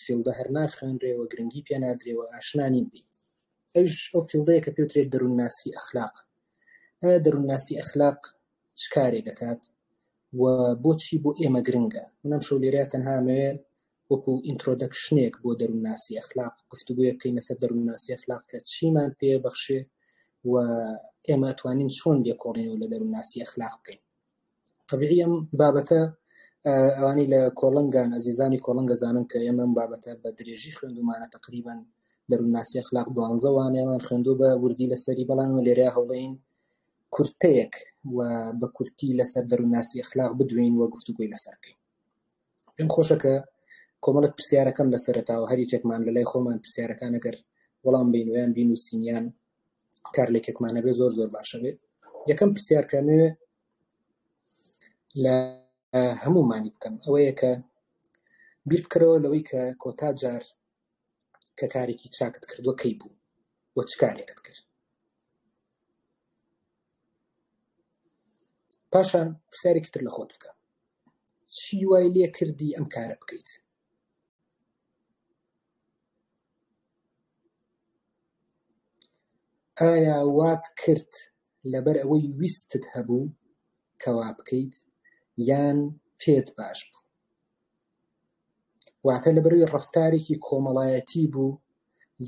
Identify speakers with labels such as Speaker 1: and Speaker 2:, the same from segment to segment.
Speaker 1: فیڵدە هەر ناخوێنرێ و گرنگی پێ نادرێ و ئاشنا نین بی ئەوش ئەو فیڵدەیە کە پێوترێت دەروونناسی ئەخلاق ئایا دەروونناسی ئەخلاق چ کارێ دەکات و بۆچی بۆ ئێمە گرنگە منم شەو لێرە تەنها مەوێ وەکو ئینترۆدەکشنێک بۆ دەروونناسی ئەخلاق گفتوگوێ بکەین لەسەر دەروونناسی ئەخلاق کە چیمان پێ بەخشێ و ئێمە توانین چۆن لێکۆڵینەوە لە دەروونناسی ئەخلاق بکەین طبیعی ئەم بابەتە ئەوانی لە کۆڵنگان ئەزیزانی کۆڵنگە زانن کە ئێمە ئەم بابەتە بە درێژی خوێندومانە تقریبان دەروونناسی ئەخلاق دوانزە وانەیەمان خوێندو بە وردی لەسەری بەڵام لێرە هەوڵین کورتەیەک و بە کورتی لەسەر دەروونناسی ئەخلاق بدوێین و گفتوگۆی لەسەر بکەین. پێم خۆشە کە کۆمەڵێک پرسیارەکەم لە سەرەتاوە هەر یەکێکمان لە لای خۆمان پرسیارەکان ئەگەر وەڵام بین ویان بینوسینیان کار لێکێکمانە بێ زۆر زۆر باشە بێ یەکەم پرسیارکە نوێ لە هەمومانی بکەم ئەوەیە کە بیر بکەرەوە لەوەی کە کۆتا جار کە کارێکی چاکت کردووە کەی بوو وە چ کارێکت کرد پاشان پرسیارێکی تر لە خۆت بکە، چی وای لێ کردی ئەم کارە بکەیت؟ ئایا وات کرد لەبەر ئەوەی ویستت هەبوو کە وا بکەیت یان پێت باش بوو؟ واتە لەبەروی ڕەفتارێکی کۆمەڵایەتی بوو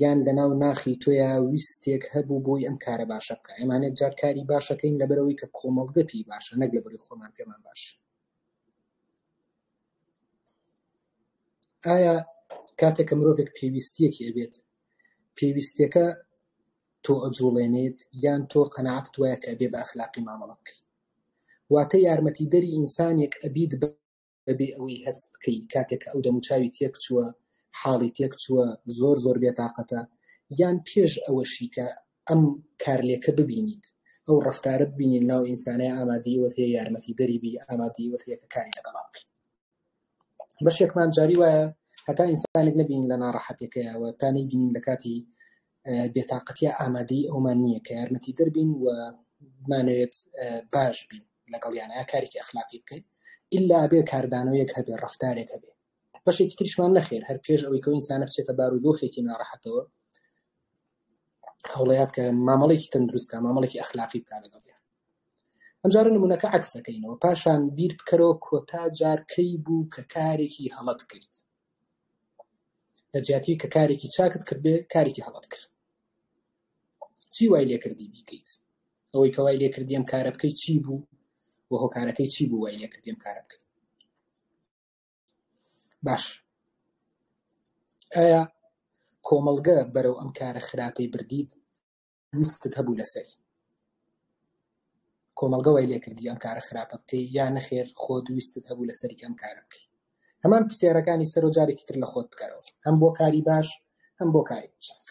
Speaker 1: یان لەناو ناخی تۆیا ویستێک هەبوو بۆی ئەم کارە باشە بکە ئەمانێت جار کاری باشەکەین لەبەرەوەی کە کۆمەڵگە پێی باشە نەک لەبەروی خۆمان پێمان باش ئایا کاتێک کە مرۆڤێک پێویستیەکی ئەبێت پێویستەکە تۆ ئەجوڵێنێت یان تۆ قەنەعات وایە کە بێ بە ئەخلاقی مامەڵە بکەیت واتە یارمەتی دەری ئینسانێک ئەبیت بە بەبێ ئەوەی هەست بکەی کاتێک کە ئەو دەموچاوی تێک چووە حاڵی تێک چووە زۆر زۆر بێتاقەتە یان پێش ئەوەشی کە ئەم کارلێکە ببینیت ئەو ڕفتارە ببینین ناو ئینسانە ئامادەیەوە هەیە یارمەتی دەریبی ئامادەیەوە هەیە کە کاری لەگەڵا بکەین بەشێکمان جاری وایە هەتا ئینسانێک نبین لە ناڕەحەتەکەیەوە تا نەیبینین لە کاتی بێتاقەتییە ئامادەیی ئەومان نییە کە یارمەتیدەر بین و بمانەوێت باش بین لەگەڵیان یا کارێکی ئەخلاقی بکەین ئللا ئەبێ کاردانەوەیەک هەبێ ڕەفتارێک هەبێ بەشێکی تریشمان نەخێر هەر پێش ئەوەی کە ئینسانە بچێتە بار و دۆخێکی ناڕەحەتەوە هەوڵەیات کە مامەڵێکی تەندروستکە مامەڵێکی ئەخلاقی بکە لەگەڵ ئەمجارە نمونونەکە عکسەکەینەوە پاشان بیر بکەرەوە کۆتا جارکەی بوو کە کارێکی هەڵت کرد لەجیاتی کە کارێکی چاکت کردبێ کارێکی هەڵەت کرد چی وای لێکردی بیکەیت ئەوەی کەوای لێکردیم کارە بکەی چی بوو و هۆکارەکەی چی بوو وای لێکردیم کارە بکەی باش ئایا کۆمەڵگە بەرەو ئەم کارە خراپەی بردیت ویستت هەبوو لەسەری کۆمەڵگە وای لێکردی ئەم کارە خراپە بکەی یا نەخێر خۆت ویستت هەبوو لەسەری ئەم کارە بکەی هەمان پرسیارەکانی سەرۆ جارێکی تر لە خۆت بکەرەوە هەم بۆ کاری باش هەم بۆ کاری چاک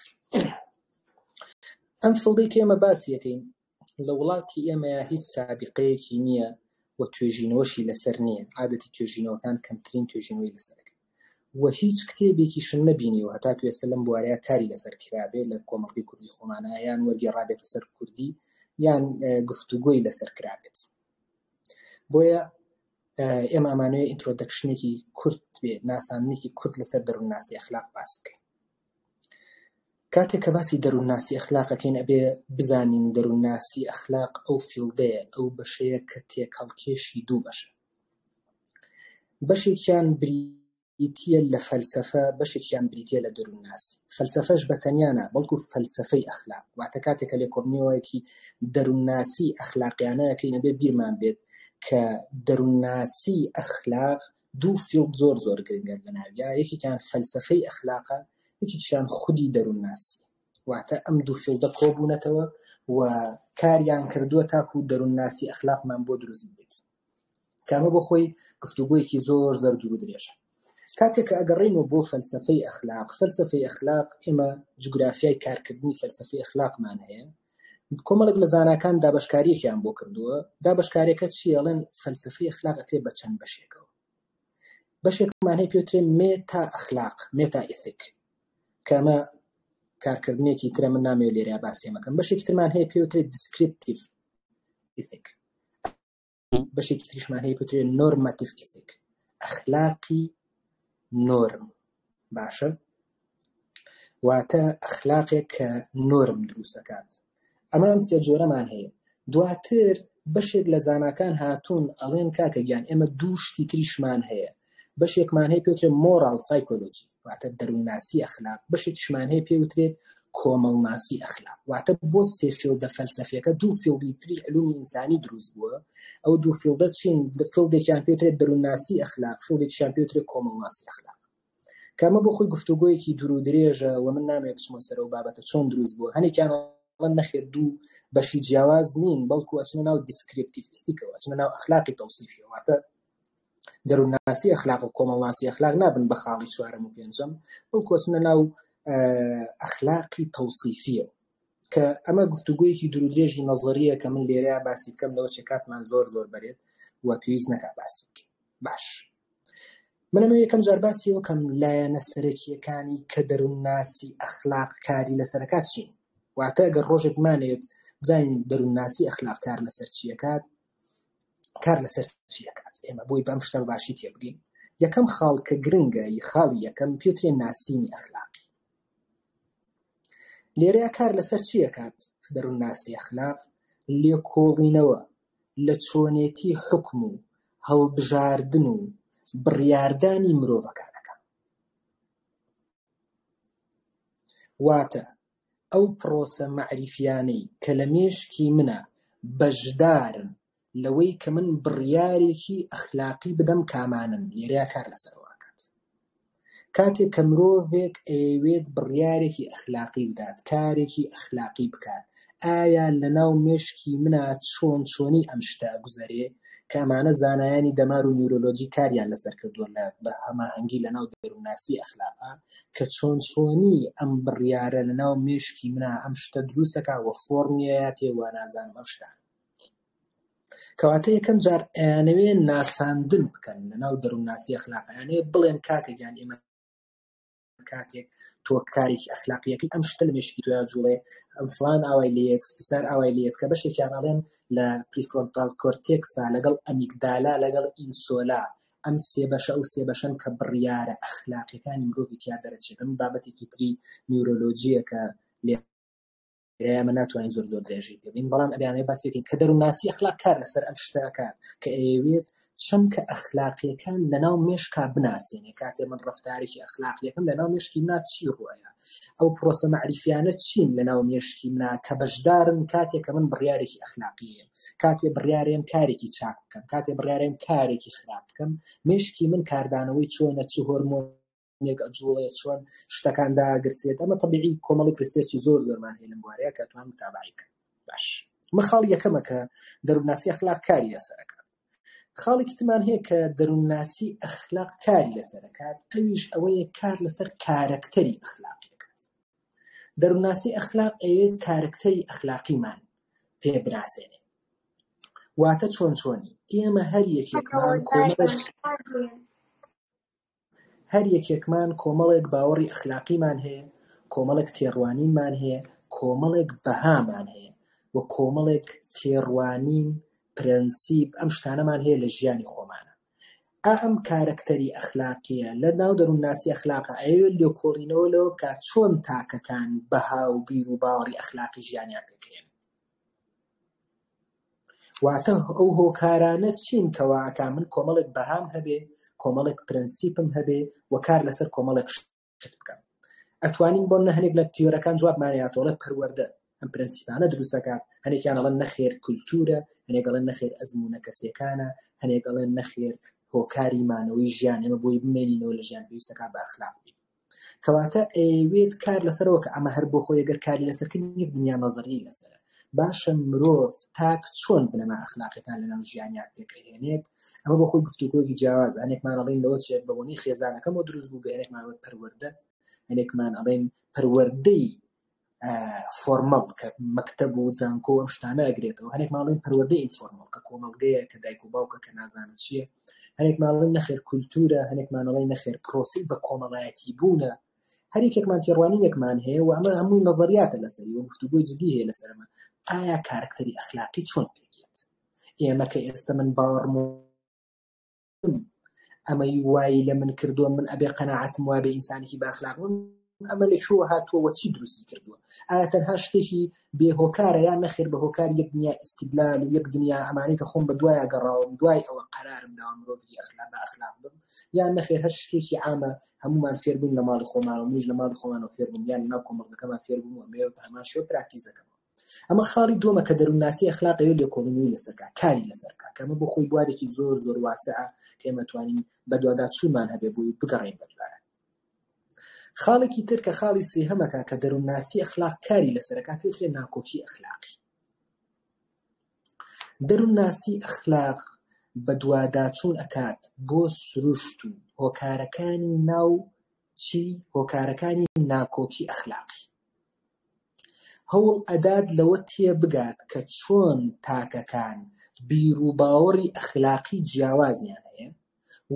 Speaker 1: ئەم فڵدەی کێمە باسیەکەین لە وڵاتی ئێمەیە هیچ سابقەیەکی نییە و توێژینەوەشی لەسەر نییە عادەتی توێژینەوەکان کەمترین توێژینەوەی لەسەرەکەن و هیچ کتێبێکیشم نەبینیوە هەتاکو ئێستا لەم بوارەیا کاری لەسەر کرابێ لە کۆمەڵگەی کوردی خۆمانا یان وەرگێڕابێتە سەر کوردی یان گفتوگۆی لەسەر کرابێت بۆیە ئێمە ئەمانەیە ئینترۆدەکشنێکی کورت بێ ناسانێکی کورت لەسەر دەروونناسی ئەخلاق باس بکەین کاتێک کە باسی دەروونناسی ئەخلاقەکەین ئەبێ بزانین دەروونناسی ئەخلاق ئەو فیلدەیە ئەو بەشەیە کە تێکەڵکێشی دوو بەشە بەشێکیان بریتییە لە فەلسەفە، بەشێکیان بریتییە لە دەروونناسی. فەلسەفەش بە تەنیا نا، بەڵکو فەلسەفەی ئەخلاق، واتە کاتێک کە لێکۆڵینەوەیەکی دەروونناسی ئەخلاقیانە ئەکەین، ئەبێ بیرمان بێت کە دەروونناسی ئەخلاق دوو فیڵد زۆر زۆر گرنگە لەناویا، یەکێکیان فەلسەفەی ئەخلاقە، یەکێکیشیان خودی دەروونناسی. واتە ئەم دوو فیڵدە کۆ بوونەتەوە و کاریان کردووە تاکوو دەروونناسی ئەخلاقمان بۆ دروست ببێت. کامە بۆ خۆی گفتوگۆیەکی زۆر زەر دوور و درێژە کاتێککە ئەگەڕینەوە بۆ فەلسفەی ئەخلاق فەلسفەی ئەخلاق ئێمە جوگرافیای کارکردنی فەلسفەی ئەخلاقمان هەیە کۆمەڵک لە زانکان دابشکاریەکیان بۆ کردووە دابشکارەکە چیڵێن فەلسفەی ئەخلاقەکرێ بە چەند بەشێکەوە بەشێکمان هەیە پێترێ مێ تا ئەخلاق مێتا ئیسیک کەمە کارکردنێکی ترە من نامێ لێرە باسێمەکەم بەشێکی ترمان هەیە پێوترێت دیسکرپتیف ئیسیک بەشێکی تریشمان هەیە پێترێ نۆرماتیف ئیسیک ئەخلاقی نۆرم باشە واتە ئەخلاقێک کە نۆرم دروستەکات ئەمە ئەم سێ جۆرەمان هەیە دواتر بەشێک لە زانکان هاتوون ئەڵێن کاکە گیان ئێمە دوو شتی تریشمان هەیە بەشێکمان هەیە پێترێ مۆرال سایکۆلۆجی واتە دەروونناسی ئەخلاق بەشێکشمان هەیە پێ وترێت کۆمەڵناسی ئەخلاق واتە بۆ سێ فیلدە فەلسەفیەکە دوو فیلدی تری علومی ئینسانی دروست بووە ئەو دوو فیلدە چین فیلدێکیان پێترێت دەروونناسی ئەخلاق فیلدێکیان پێترێت کۆمەڵناسی ئەخلاق کامە بۆ خۆی گفتوگویەکی دوور درێژە و من نامێ بچمە سەر و بابەتە چۆن دروست بوو هەنێکیان من نەخێر دوو بەشی جیاواز نین بەڵکو ئەچنە ناو دیسکرپتیفیکەوە ئەچنە ناو ئەخلاقی تەوسیفیەوەتە دەروونناسی ئەخلاق و کۆمەڵناسی ئەخلاق نابن بە خاڵی چوارەم و پێنجەم بەڵکو ئەچنە ناو ئەخلاقی تەوسیفیە کە ئەمە گفتوگویەکی درودرێژی نەزەریە کە من لێرە باسی بکەم لەوە چێ کاتمان زۆر زۆر بەرێت و پێویست نەکا باسی بکەین باش منەمە یەکەم جار باسی وەکەم لایەنە سەرەکیەکانی کە دەروونناسی ئەخلاق کاری لەسەرکات چین واتە گەر ڕۆژێک مانێت بزانین دەروونناسی ئەخلاق کار لەسەر چیەکات کار لەسەر چی دەکات ئێمە بۆی بەم شتە باشی تێبگەین یەکەم خاڵ کە گرنگە خاڵی یەکەم پێترێن ناسینی ئەخلاقی لێرە کار لەسەر چی دەکات دەروون ناسی ئەخلاق لێکۆڵینەوە لە چۆنێتی حکم و هەڵبژاردن و بڕیاردانی مرۆڤەکانەکە واتە ئەو پڕۆسە مەعریفیانەی کە لە مێشکی منە بەشدارن لەوەی کە من بڕیارێکی ئەخلاقی بدەم کامانەن لێرەیا کار لەسەرەوە ئەکات کاتێک کە مرۆڤێک ئەیەوێت بڕیارێکی ئەخلاقی بدات کارێکی ئەخلاقی بکات ئایا لە ناو مێشکی منە چۆن چۆنی ئەم شتە گوزەرێ کامانە زانایانی دەمار و نیورۆلۆجی کاریان لەسەر کردووە لە بە هەماهەنگی لە ناو دەروناسی ئەخلاقا کە چۆن چۆنی ئەم بڕیارە لە ناو مێشکی منا ئەم شتە دروستەکە وە فۆرمیەیاتێ وە نازانم ئەم شتان کەواتە یەکەم جار ئەیانەوێ ناساندن بکەن لە ناو دەروونناسی ئەخلاقیانێ بڵێن کاکە گیان ئێمە کاتێک تۆ کارێکی ئەخلاقیەکەی ئەم شتە لە مێشکی تویا جوڵێ ئەم فلان ئاوای لێت فسار ئاوای لێت کە بەشێکیان ئەڵێن لە پریفۆنتال کۆرتێکسا لەگەڵ ئەمیکدالا لەگەڵ ئینسۆلا ئەم سێ بەشە ئەو سێ بەشەن کە بڕیارە ئەخلاقیەکانی مرۆڤی تیا دەرەچێت بەم بابەتێکی تری نیورۆلۆجیە کە لێ ئێمە ناتوانین زۆر زۆر درێژەی پێبین بەڵام ئەبیانەیە باسێکین کە دەروونناسی ئەخلاق کار لەسەر ئەم شتەکات کە ئەیەوێت چەمکە ئەخلاقیەکان لەناو مێشکا بناسێنێ کاتێ من ڕفتارێکی ئەخلاقیەکەم لەناو مێشکی نات چی ڕۆیە ئەو پرۆسە معریفیانە چین لەناو مێشکی منا کە بەشدارن کاتێک کە من بڕیارێکی ئەخلاقیە کاتێ بڕیارێن کارێکی چاک بکەم کاتێ بڕیارێن کارێکی خراپ بکەم مشکی من کاردانەوەی چۆنە چ هۆرمۆن جوڵێ چۆن شتەکان داگرسێت ئەمە طبیعی کۆمەڵی پرسێکی زۆر زۆرمان هێنم بوارەیە کە توان متابعی کرد باش من خاڵ یەکەمە کە دەروناسی ئەخلاق کاری لەسەرەکە خاڵێکی تمان هەیە کە دەرونناسی ئەخلاق کاری لەسەرەکات ئەویش ئەوەیە کار لەسەر کارەکتەری ئەخلاقی دەروونناسی ئەخلاق ئەوێ کارەکتەری ئەخلاقیمان پێ بناسێنێ واتە چۆن چۆنی ئێمە هەر یەکێکمان کۆمەڵێک هەر یەکێکمان کۆمەڵێک باوەڕی ئەخلاقیمان هەیە کۆمەڵێک تێڕوانینمان هەیە کۆمەڵێک بەهامان هەیە و کۆمەڵێک تێڕوانین پرەنسیب ئەم شتانەمان هەیە لە ژیانی خۆمانە ئا ئەم کارەکتەری ئەخلاقییە لە ناو دەروونناسی ئەخلاقا ئەیەوێ لێکۆڵینەوە لەوە بکا چۆن تاکەکان بەها و بیر و باوەڕی ئەخلاقی ژیانیان پێ کرێن. واتە ئەو هۆکارانە چین کەوا ئەکا من کۆمەڵێک بەهام هەبێ، کۆمەڵێک پرەنسیپم هەبێ و کار لەسەر کۆمەڵێک شت بکات ئەتوانین بۆ نە هەنێک لە تیۆرەکان جوابمانەیەتۆڵە پەروەەردە ئەم پرەنسیپانە دروستەکات هەنێکیان ئەڵەن نەخێر کولتورە هەنێکڵێن نەخێر ئەزمونە کەسەکانە هەنێک ئەڵێن نەخێر هۆکاری مانەوەی ژیان ئێمە بۆی بمێنینەوە لە ژیان پێویستەکە بە ئەخلاق بین کەواتە ئەوێت کار لەسەرەوە کە ئەمە هەر بۆ خۆی گەر کاری لەسەرکردن یەک دنیا نەزەری لەسەر باشە مرۆڤ تاک چۆن بنەما ئەخلاقەکان لەناو ژیانیان پێکەهێنێت ئەمە بۆ خۆی گفتوگۆیەکی جیاواز هەنێکمان ئەڵین لەوە چێت بە بۆنی خێزانەکەم و دروست بوو بەێنێکمانەوە پەروەەردە هەنێکمان ئەڵێن پەروەەردەی فۆرمەڵ کە مەکتب و زانکۆ ئەم شتانە ئەگرێتەوە هەنێک ماڵین پەروەەردەی ئینفۆرمەڵ کە کۆمەڵگەیە کە دایک و باوکە کە نازانم چییە هەنێک ماڵین نەخێر کولتورە هەنێک ماڵی نەخێر پرۆسی بە کۆمەڵایەتی بوونە هەریەکێکمان تێڕوانینێکمان هەیە و ئەمە هەمووی نەزەریاتە لەسەری و گفتوگۆی جدی هەیە لەسەرمە ئایا کارکتەری ئەخلاقی چۆن پێکێت ئێمە کە ئێستا من باوەڕم ئەمەی وای لە من کردووە من ئەبێ قەنەعاتم وابێ ئینسانێکی باخلاق بم ئەمە لە چوە هاتووە وە چی دروستی کردووە ئایا تەنها شتێکی بێهۆکارە یان نەخێر بە هۆکار یەک دنیا ئیسیدلال و یەک دنیا ئەمانی کە خۆم بە دوایە گەڕاوم دوای ئەوە قەرارم داوە مرۆڤی ئەخلا بە ئەخلاق بم یان نەخێر هەر شتێکی عامە هەموومان فێر بووین لە ماڵی خۆمانەوە منیش لە ماڵی خۆمانەوە فێر بووم یان لەناو کۆمەڵگەکەمان فێر بووم و ئەمەوێ بە هەمان شێوە پراکتیز دەکەم ئەمە خاڵی دووەمە کە دەروونناسی ئەخلاقەوە لێکۆڵینەوەی لەسەرکە کاری لەسەرکە کە ئەمە بۆ خۆی بوارێکی زۆر زۆر واسعە کە ئێمە توانین بەدوادا چوومان هەبێ بووی بگەڕین بەدوارە خاڵێکی تر کە خاڵی سێهەمەکە کە دەروونناسی ئەخلاق کاری لەسەرەکە پێترێ ناکۆکی ئەخلاقی دەروونناسی ئەخلاق بەدواداچوون ئەکات بۆ سروشت و هۆکارەکانی ناوکی هۆکارەکانی ناکۆکی ئەخلاقی. هەوڵ ئەدات لەوە تێبگات کە چۆن تاکەکان بیروباوەڕی ئەخلاقی جیاوازیان هەیە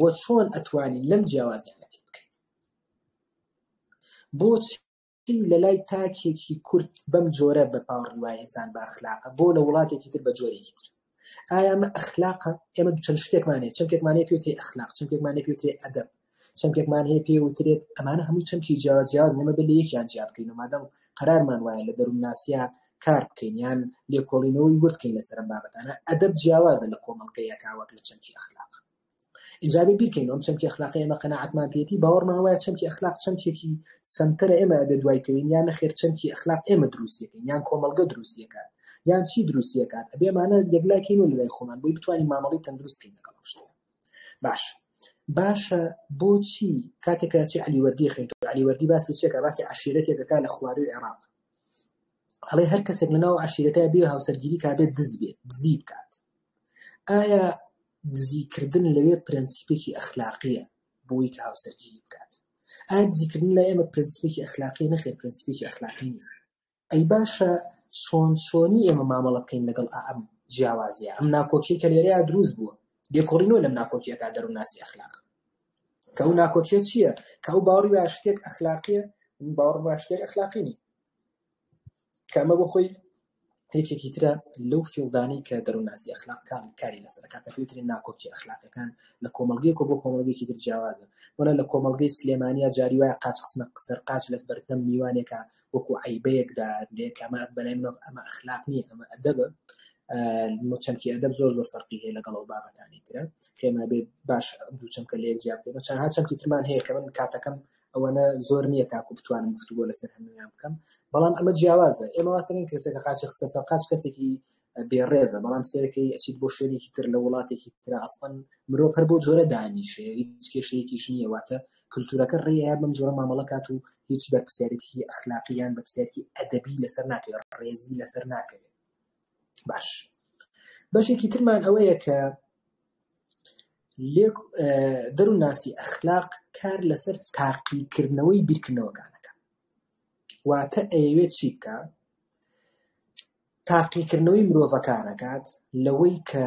Speaker 1: و چۆن ئەتوانین لەم جیاوازیانە تێبگەین. بۆچی؟ چی لە لای تاکێکی کورد بەم جۆرە بە پاوڕی وایە ئینسان بە ئەخلاقە بۆ لە وڵاتێکی تر بە جۆرێکی تر ئایا ئەمە ئەخلاقە ئێمە دوو چەند شتێکمان هەیە چەمکێکمان هەیە پێوتری ئەخلاق چەمکێکمان هەیە پێوترێ ئەدەب چەمکێکمان هەیە پێ وترێت ئەمانە هەموو چەمکی جیاوە جیاز نەمە بە لە یەکیان جیا بکەین و مادەم قەرارمان وایە لە دەروونناسیە کار بکەین یان لێکۆڵینەوەی وردکەین لەسەر ئەم بابەتانە ئەدەب جیاوازە لە کۆمەڵگەیەکا وەک لە چەمکی ئەخلاق ئینجا بێ بیرکەین ئەم چەمکی ئەخلاقی ئێمە قەناعەتمان پێێتی باوەڕمان وایە چەمکی ئەخلاق چەمکێکی سنتەرە ئێمە ئەبێ دوای کەوین یان نەخێر چەمکی ئەخلاق ئێمە دروستیەکەین یان کۆمەلگە دروستیەکان یان چی دروستیەکات ئەبێمانە یەکلاکەین و لای خۆمان بۆی بتوانین مامەڵی تەندروستکەین لەگەڵ شتێ باش باشە بۆچی کاتێکە چی علیوەردی خێن علیوەردی باسی چێکە باسی عشیرەتێکەکە لە خواروی عێراق هەڵێ هەر کەسێک لەناو عشیرەتە بێ هاوسەرگیری کابێت دز بێت دزی بکات ئایا دزی کردن لەوێ پرەنسیپێکی ئەخلاقیە بۆی کە هاوسەرگیری بکات ئایا دزی کردن لای ئێمە پرەنسیپێکی ئەخلاقی نەخێر پرەنسیپێکی ئەخلاقی نیست ئەی باشە چۆن چۆنی ئێمە مامەڵە بکەین لەگەڵ ئەم جیاوازیە ئەم ناکۆکی کە لێرەیا دروست بووە لێکۆڵی نۆ لەم ناکۆکیەکە دەروونناسی ئەخلاق کە ئەو ناکۆکیە چییە کە ئەو باوەڕی وا شتێک ئەخلاقیە باوەڕ وا شتێک ئەخلاقی نی کە ئەمە بۆ خۆی یەکێکی ترە لەو فیڵدانەی کە دەروونناسی ئەخلاق کار کاری لەسەر کاتە فیلتری ناکۆکی ئەخلاقەکان لە کۆمەڵگەیەک و بۆ کۆمەڵگەیەکی تر جیاوازە وەنە لە کۆمەڵگەی سلێمانیا جاری وایە قاچ خستنە سەر قاچ لەس بەردەم میوانێکە وەکو عیبەیەک دادرێ کە ئەمە بەلای منەوە ئەمە ئەخلاق نییە ئەمە ئەدەبە چەمکی ئەدەب زۆر زۆر فەرقی هەیە لەگەڵ ئەو بابەتانی ترە پێما بێ باش دوو چەمکە لە یەک جیا بکەین چەندها چەمکی ترمان هەیە کە من کاتەکەم ئەوەنە زۆر نییە تاکو بتوانم گفتوگۆ لەسەر هەمویان بکەم بەڵام ئەمە جیاوازە ئێمە واسەرین کەسێکە قاچی خستە سەر قاچ کەسێکی بێڕێزە بەڵام سێرەکەی ئەچیت بۆ شوێنێکی تر لە وڵاتێکی تررا ئەستان مرۆڤ هەر بۆ جۆرە دانیشێ هیچ کێشەیەکیش نییە واتە کللتورەکە ڕێیان بم جۆرە مامەڵەکات و هیچ بەرپسیارێتی ئەخلاقییان بەپسیارکی ئەدەبی لەسەر ناکەێت ڕێزی لەسەر ناکەوێت باش بەشێکی ترمان ئەوەیە کە لێک دەروونناسی ئەخلاق کار لەسەر تاقیکردنەوەی بیرکردنەوەکانەکە واتە ئەیەوێت چی بکە تاقیکردنەوەی مرۆڤەکانەکات لەوەی کە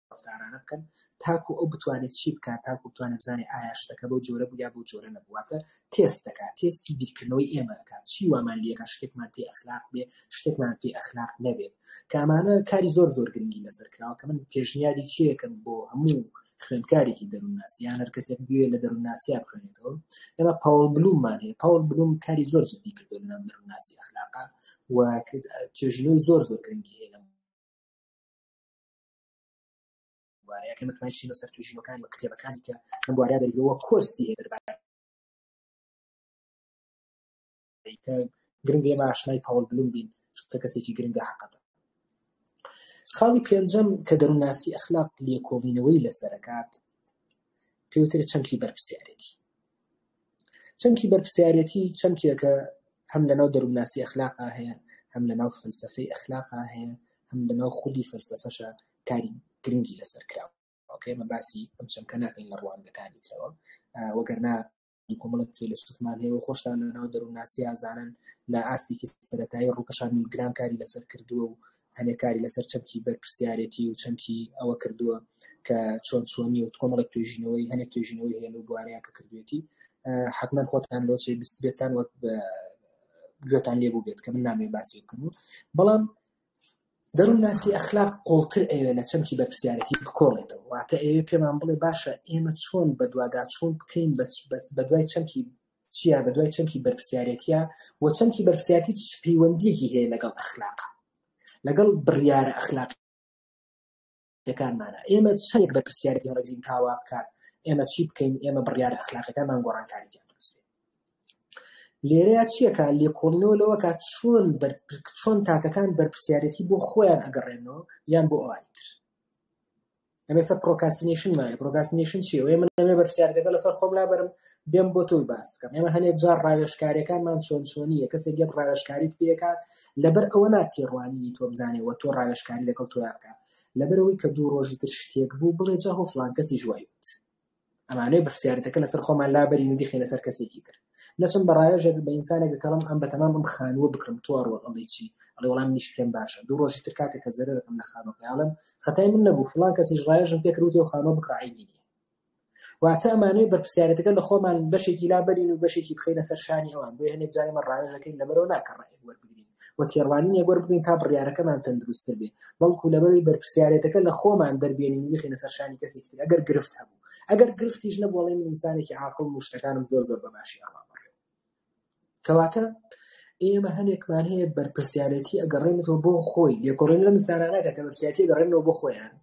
Speaker 1: ڕەفتارانە بکەن تاکو ئەو بتوانێت چی بکات تاکو بتوانێت بزانێت ئایا شتەکە بۆ جۆرە بوو یا بۆ جۆرە نەبوو واتە تێست دەکات تێستی بیرکردنەوەی ئێمە دەکات چی وامان لێکە شتێکمان پێ ئەخلاق بێ شتێکمان پێ ئەخلاق نەبێت کامانە کاری زۆر زۆر گرنگی لەسەر کراوە کە من پێشنیاری چیەکەم بۆ هەموو خوێندکارێکی دەروونناسی یان هەر کەسێک بوێ لە دەروونناسیا بخوێنێتەوە ئێمە پاوڵ بلوممان هەیە پاوڵ بلوم کاری زۆر جدی کردو لە ناو دەروونناسی ئەخلاقا و توێژینەوەی زۆر زۆر گرنگی هەیە بوارەیە کە متمانە چینە سەر توژینەکانی و کتێبەکانی کە لەم بوارەیە دەربەوە کۆرسی هەیە دەربارە گرنگ ئێمە ئاشنای پاوڵ بلوم بین کە کەسێکی گرنگە حقەتە خاڵی پێنجەم کە دەروناسی ئەخلاق لێکۆڵینەوەی لەسەرکات پێوترێت چەمکی بەرپسیارێتی چەمکی بەرپسیارێتی چەمکێکە هەم لەناو دەروونناسی ئەخلاقا هەیە هەم لەناو فلسفەی ئەخلاقا هەیە هەم لەناو خودی فلسفەشە کاری گرنگی لەسەر کراوە ئەوکەمە باسی ئەم چەمکە ناکەین لە ڕوانگەکانی ترەوە وەگەرنا کۆمەڵێک فیلسوفمان هەیە و خۆشتان لە ناو دەروونناسی ئازانن لە ئاستێکی سەتایی ڕووکەشان میلگرام کاری لەسەر کردووە و هەنێکاری لەسەر چەمکی بەرپرسیارەتی و چەمکی ئەوە کردووە کە چۆن چۆنی و کۆمەڵێک توێژینەوەی هەنێک توێژینەوەی هەیە لەو بوارەیە کە کردوێتی حکمەن خۆتان لۆچێ بستبێتان وەک گوێتان لێ بوو بێت کە من نامێ باسی بکەم بەڵام دەروونناسی ئەخلاق قووڵتر ئەیەوێ لە چەمکی بەرپرسیارێتی بکۆڵێتەوە، واتە ئەیەوێ پێمان بڵێ باشە ئێمە چۆن بەدواداچوون بکەین بەدوای چەمکی چیا، بەدوای چەمکی بەرپرسیارێتیە و چەمکی بەرپرسیارێتی چ پەیوەندیەکی هەیە لەگەڵ ئەخلاق، لەگەڵ بڕیارە ئەخلاقی. یەکانمانە ئێمە چەندێک بەرپرسیارەتی هەڵگرین تاوا بکات ئێمە چی بکەین ئێمە بڕیار ئەخلاقەکانمان گۆڕانکاری جان لێرەیە چیەکە لێکۆڵینەوە لەوە کات چۆن چۆن تاکەکان بەرپسیارەتی بۆ خۆیان ئەگەڕێنەوە یان بۆ ئەوانی تر ئەمێستا پرۆکاسینشنمانە پرۆکاسینشن چی ئەوەیە من ئەمێ بەرپسیارەتەکە لەسەر خۆم لابرم بێم بۆ تۆی باس بکەم ئێمە هەنێک جار ڕاوێشکارەکانمان چۆن چۆنیە کەسێک گەت ڕاوێشکاریت پێکات لەبەر ئەوە ناتێڕوانینی تۆ بزانێ وە تۆ ڕاوێشکاری لەگەڵ تۆیا بکە لەبەرەوەی کە دوو ڕۆژی تر شتێک بوو بڵێ جا هۆ فلان کەسی ژوایوت ئەمانەی بەرسیارەتەکە لەسەر خۆمان لابەرین و دیخێنە سەر کەسێکی تر نەچم بە ڕایەژێک بە ئینسانێکە کەڵم ئەم بە تەمام ئەم خانووە بکرم تۆ ڕۆڵ ئەڵی چی ئەڵێ وڵام نیش پێم باشە دوو ڕۆژی تر کاتێکە زەرەکەم لە خانۆکەیاڵم خەتای من نەبوو فلان کەسیش ڕایەژم پێکروتی و خانۆ بکڕعی بینی واتە ئەمانەوێ بەرپرسیارێتەکە لە خۆمان بەشێکی لا بەرین و بەشێکی بخەینە سەر شانی ئەوان بۆیە هەندێک جار ئێمە ڕاوێژ دەکەین لەبەرەوە نا کە ڕێک وەربگرین و تێڕوانینێک وەربگرین تا بڕیارەکەمان تەندروستتر بێ بەڵکو لەبەروی بەرپرسیارێتەکە لە خۆمان دەربێنین و بخینە سەر شانی کەسێکی تر ئەگەر گرفت هەبوو ئەگەر گرفتیش نەبوو ئەڵێین ئینسانێکی عاقڵ و شتەکانم زۆر زۆر بە باشی ئاڕام بەڕێوە کەواتە ئێمە هەنێکمان هەیە بەرپرسیارەتی ئەگەڕێنەوە بۆ خۆی لێکۆڵێن لەم سارانەکە کە بەرسیاتی گەڕێنەوە بۆ خۆیان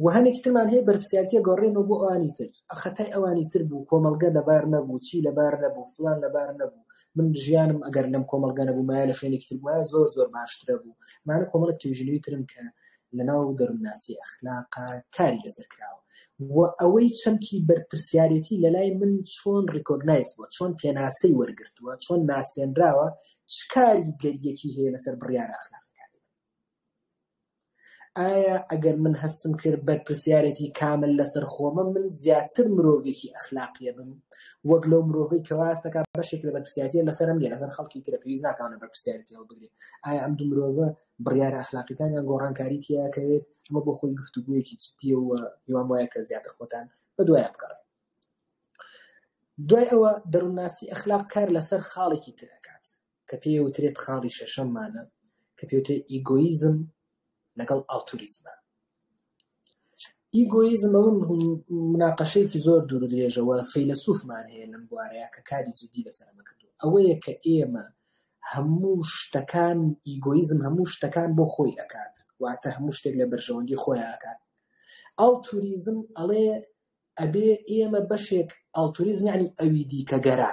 Speaker 1: و هەنێکی ترمان هەیە بەرپسیارتیە گەڕێنەوە بۆ ئەوانی تر خەتای ئەوانی تر بوو کۆمەلگە لەبار نەبوو چی لەبار نەبوو فلان لەبار نەبوو من ژیانم ئەگەر لەم کۆمەلگە نەبوو مایە لە شوێنێکی تر وایە زۆر زۆر باشترە بوو مانە کۆمەڵک توژنوی ترم کە لەناو دەروونناسی ئەخلاقا کاری لەسەر کراوە و ئەوەی چەمکی بەرپرسیارێتی لەلای من چۆن ڕیکۆگنایز بووە چۆن پێناسەی وەرگرتووە چۆن ناسێنراوە چ کاری گەریەکی هەیە لەسەر بڕیارە ئەخلاق ئایا ئەگەر من هەستم کرد بەرپرسیارەتی کامل لەسەر خۆمە من زیاتر مرۆڤێکی ئەخلاقیە بم وەک لەو مرۆڤی کەواستەکە بەشێک لە بەرپسیاتە لەسەرم لێ لەسەر خەڵکی ترە پێویست ناکانە بەرپسیارەتی هەڵبگرێت ئایا ئەم دو مرۆڤە بڕیارە ئەخلاقیەکانیان گۆڕانکاری تیاکەوێت ئەمە بۆ خۆی گفتوگویەکی جددیە و هیوام وایە کە زیاتر خۆتان بە دوایە بگەڕێ دوای ئەوە دەروونناسی ئەخلاق کار لەسەر خاڵێکی ترەکات کە پێ وترێت خاڵی شەشەممانە کە پێوترێت ئیگۆیزم لەگەڵ ئاڵتوریزمە ئیگۆیزم ئەوە مناقەشەیەکی زۆر دوور و درێژە و فەیلەسووفمان هەیە لەم بوارەیە کە کاری جیددی لەسەر ئەمە کردووە، ئەوەیە کە ئێمە هەموو شتەکان ئیگۆیزم هەموو شتەکان بۆ خۆی ئەکات، واتە هەموو شتێک لە بەرژەوەندیی خۆی ئەکات. ئەڵتوریزم ئەڵێ ئەبێ ئێمە بەشێک ئەڵتوریزم یەعنی ئەویدیکەگەرا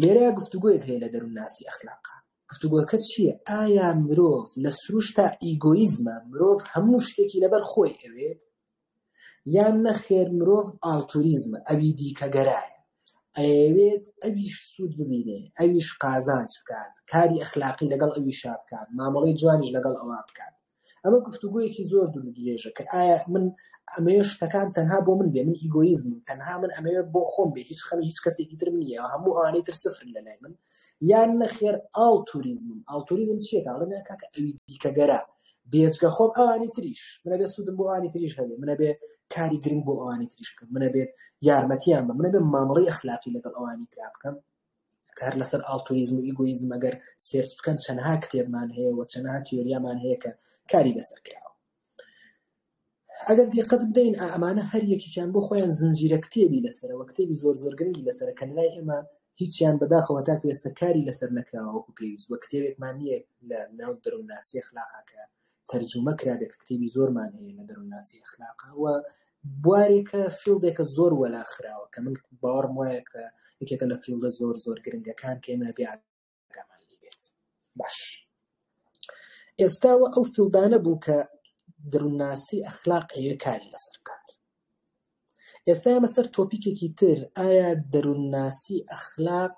Speaker 1: لێرە گفتوگۆیەک هەیە لە دەروونناسی ئەخلاقا گفتوگۆکە چییە ئایا مرۆڤ لە سروشتا ئیگۆیزمە مرۆڤ هەموو شتێکی لەبەر خۆی ئەوێت یان نەخێر مرۆڤ ئاڵتوریزمە ئەوی دیکەگەرایە ئەوێت ئەویش سوود ببینێ ئەویش قازانج بکات کاری ئەخلاقی لەگەڵ ئەویشا بکات مامەڵی جوانیش لەگەڵ ئەوە بکات ئەمە گفتوگویەکی زۆر دوور درێژە کە ئایا من ئەمێ شتەکان تەنها بۆ من بێ من ئیگۆیزم تەنها من ئەمێ بۆ خۆم بێ هیچ خەمی هیچ کەسێکی ترم نییە هەموو ئەوانەی تر سفر لە لای من یان نەخێر ئاڵ توریزمم ئاڵ توریزم چیە کاڵێن کاکە ئەوی دیکەگەرە بێجگە خۆم ئەوانی تریش منە بێ سوودم بۆ ئەوانی تریش هەبێ منە بێ کاری گرنگ بۆ ئەوانی تریش بکەم منە بێت یارمەتیان بە منە بێ مامەڵی ئەخلاقی لەگەڵ ئەوانی ترا بکەم کار لەسەر ئاڵتوریزم و ئیگۆیزم ئەگەر سێرچ بکەن چەنها کتێبمان هەیە و چەنها تیۆریامان هەیە کە کاری لەسەر کراوە ئەگەر دیقەت بدەین ئەمانە هەر یەکیان بۆ خۆیان زنجیرە کتێبی لەسەرەوە کتێبی زۆر زۆر گرنگی لەسەر کە لای ئێمە هیچیان بەداخەوە تا کوێستە کاری لەسەر نەکراوەکو پێویست وە کتێبێکمان نییە لە ناو دەرونناسی خلاقاکە تەرجومە کرابێ کە کتێبی زۆرمان هەیە لە دەروونناسی ئەخلاقا و بوارێکە فیلدێکە زۆر وەلا خراوە کە من باوەڕم وایە کە یەکێکە لە فیلدە زۆر زۆر گرنگەکان کە ئێمە بێ ئاگامان لێ بێت باش ئێستاوە ئەو فیلدانە بوو کە دەروونناسی ئەخلاق ئەوێ کاری لەسەر بکات ئێستا ئێمە سەر تۆپیکێکی تر ئایا دەروونناسی ئەخلاق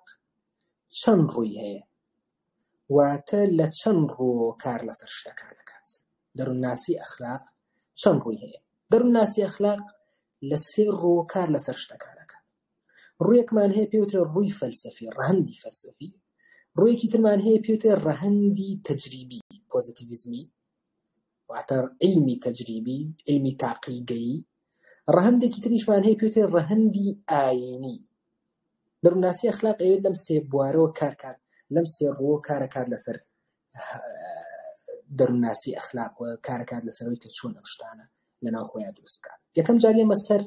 Speaker 1: چەند ڕووی هەیە واتە لە چەند ڕوو کار لەسەر شتەکان ئەکات. دەروونناسی ئەخلاق چەند ڕووی هەیە؟ دەروونناسی ئەخلاق لە سێ ڕوو کار لەسەر شتەکان ئەکات. ڕوویەکمان هەیە پێی وترێ ڕووی فەلسەفی، ڕەهەندی فەلسەفی، ڕوویەکی ترمان هەیە پێی وترێ ڕەهەندی تەجریبی، پۆزەتیڤیزمی، واتە عیلمی تەجریبی، عیلمی تاقیگەیی، ڕەهەندێکی تریشمان هەیە پێی وترێ ڕەهەندی ئایینی، دەروونناسی ئەخلاق ئەیەوێت لەم سێ بوارەوە کار کات لەم سێ ڕووەوە کارە کات لەسەر دەروونناسی ئەخلاق و کارە کات لەسەرەوەی کە چۆن ئەم شتانە لەناو خۆیان دروست بکات یەکەم جار ئێمە سەر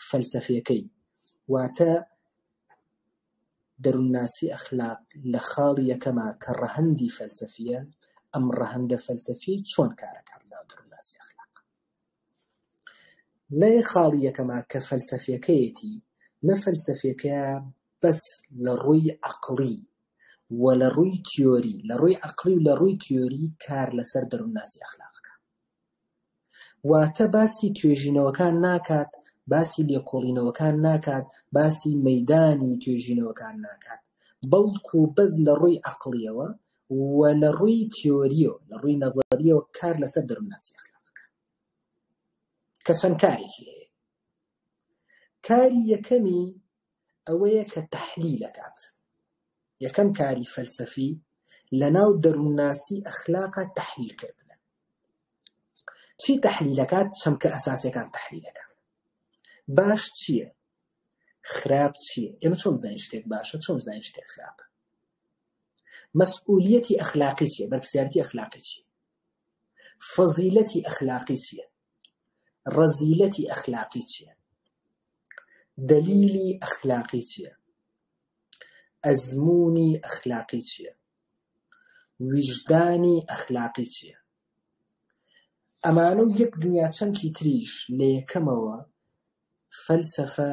Speaker 1: فەلسەفیەکەی واتە دەروونناسی ئەخلاق لە خاڵی یەکەما کە ڕەهەندی فەلسەفیە ئەم ڕەهەندە فەلسەفی چۆن کارەکات لەناو دەروونناسی ئەخلاق لای خاڵی یەکەما کە فەلسەفیەکەیەتی نە فەلسەفیەکەیە بەس لە ڕووی عەقڵی و لە ڕووی تیۆری لە ڕووی عەقڵی و لە ڕووی تیۆری کار لەسەر دەروونناسی ئەخلاق ئەکا واتە باسی توێژینەوەکان ناکات باسی لێکۆڵینەوەکان ناکات باسی مەیدانی توێژینەوەکان ناکات بەڵکوو بەس لە ڕووی عەقڵیەوە و لە ڕووی تیۆرییەوە، لە ڕووی نەزەرییەوە کار لەسەر دەروونناسی ئەخلاق بکا. کە چەند کارێکی هەیە. کاری یەکەمی ئەوەیە کە تەحلیل دەکات. یەکەم کاری فەلسەفی لەناو دەروونناسی ئەخلاقە تەحلیل کردنە. چی تەحلیل دەکات؟ چەمکە ئەساسیەکان تەحلیل دەکات. باش چییە؟ خراپ چییە؟ ئێمە چۆن بزانین شتێک باشە؟ چۆن بزانین شتێک خراپە؟ مەسئولیەتی ئەخلاقی چیە بەرپسیارەتی ئەخلاقی چی فەزیلەتی ئەخلاقی چیە ڕەزیلەتی ئەخلاقی چیە دلیلی ئەخلاقی چیە ئەزمونی ئەخلاقی چیە ویژدانی ئەخلاقی چیە ئەمانە و یەک دنیا چەمکی تریش لە یەکەمەوە فەلسەفە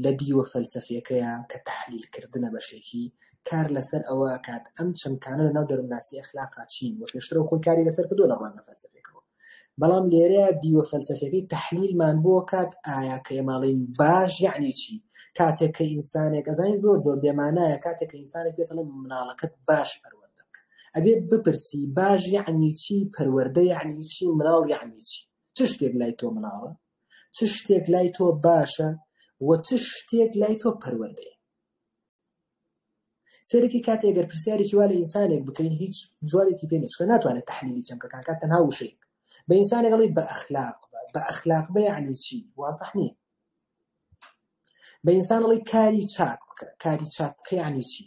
Speaker 1: لە دیوە فەلسەفیەکەیا کە تەحلیل کردنە بەشێکی، کار لە سەر ئەوە ئەکات ئەم چەمکانە لە ناو دەروونناسی ئەخلاقا چین وە پێشترەوە خۆی کاری لە سەر کردووە لە ڕوانگە فەلسەفیەکەوە بەڵام لێرەیا دیوە فەلسەفیەکەی تەحلیلمان بۆ ئەکات ئایا کە ئێمە ئەڵێین باش یەعنی چی کاتێک کە ئینسانێک ئەزانین زۆر زۆر بێمانایە کاتێک کە ئینسانێک پێت ئەڵێ مناڵەکەت باش پەروەردە بکە ئەبێ بپرسی باش یەعنی چی پەروەردە یەعنی چی مناڵ یەعنی چی چ شتێک لای تۆ مناڵە چ شتێک لای تۆ باشە و چ شتێک لای تۆ پەروەردەیە سەرەکی کاتی ئەگەر پرسیارێکی وا لە ئینسانێک بکەین هیچ جوابێکی پێ نچکە ناتوانێت تحلیلی چەمکەکان کات تەنها وشەیەک بە ئینسانێکڵی بە ئەخلاق بە ئەخلاق بە یعنی چی واسەح نییە بە ئینسان ئەڵێ کاری چاک بکە کاری چاک بکە یعنی چی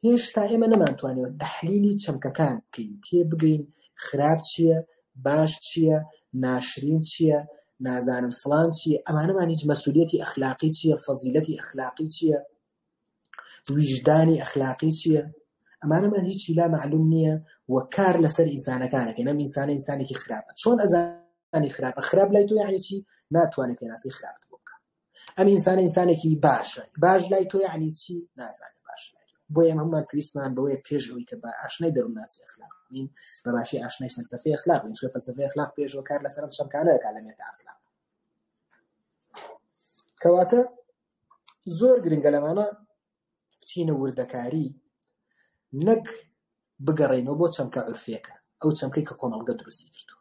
Speaker 1: هێشتا ئێمە نەمانتوانەوە تحلیلی چەمکەکان بکەین تێ بگەین خراپ چییە باش چییە ناشرین چییە نازانم فلان چییە ئەمانەمان هیچ مەسوولەتی ئەخلاقی چییە فەزیلەتی ئەخلاقی چییە ویژدانی ئەخلاقی چییە ئەمانەمان هیچی لا معلوم نییە و کار لەسەر ئینسانەکانەکە نەم ئینسانە ئینسانێکی خراپە چۆن ئەزانی خراپە خراپ لای تۆ یعنی چی ناتوانێت پێناسی خراپت بۆ بکە ئەم ئینسانە ئینسانێکی باشە باش لای تۆ یعنی چی نازانێت باش بۆ ئێمە هەممان پێویستمان بەوەیە پێش ئەوی کە بە ئاشنای دەروونناسی ئەخلاق بین بە باشی ئاشنای فەلسەفەی ئەخلاق بین چون فەلسەفەی ئەخلاق پێشەوە کار لەسەرم چەمکانە دەکات لە مێتا ئەخلاق کەواتە زۆر گرنگە لەمانە بچینە وردەکاری نەک بگەڕێنەوە بۆ چەمکە عرفێکە ئەو چەمکەی کە کۆمەڵگە دروستی کردو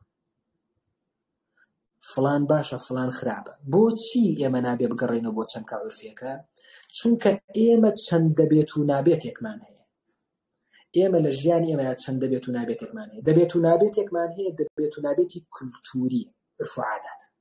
Speaker 1: فلان باشە فلان خراپە بۆچی ئێمە نابێ بگەڕێنەوە بۆ چەمکە عرفێکە چونکە ئێمە چەند دەبێت و نابێتێکمان هەیە ئێمە لە ژیان ئێمە چەند دەبێت و نابێتێکمان هەیە دەبێت و نابێتێکمان هەیە دەبێت و نابێتی کولتوری عرفعادات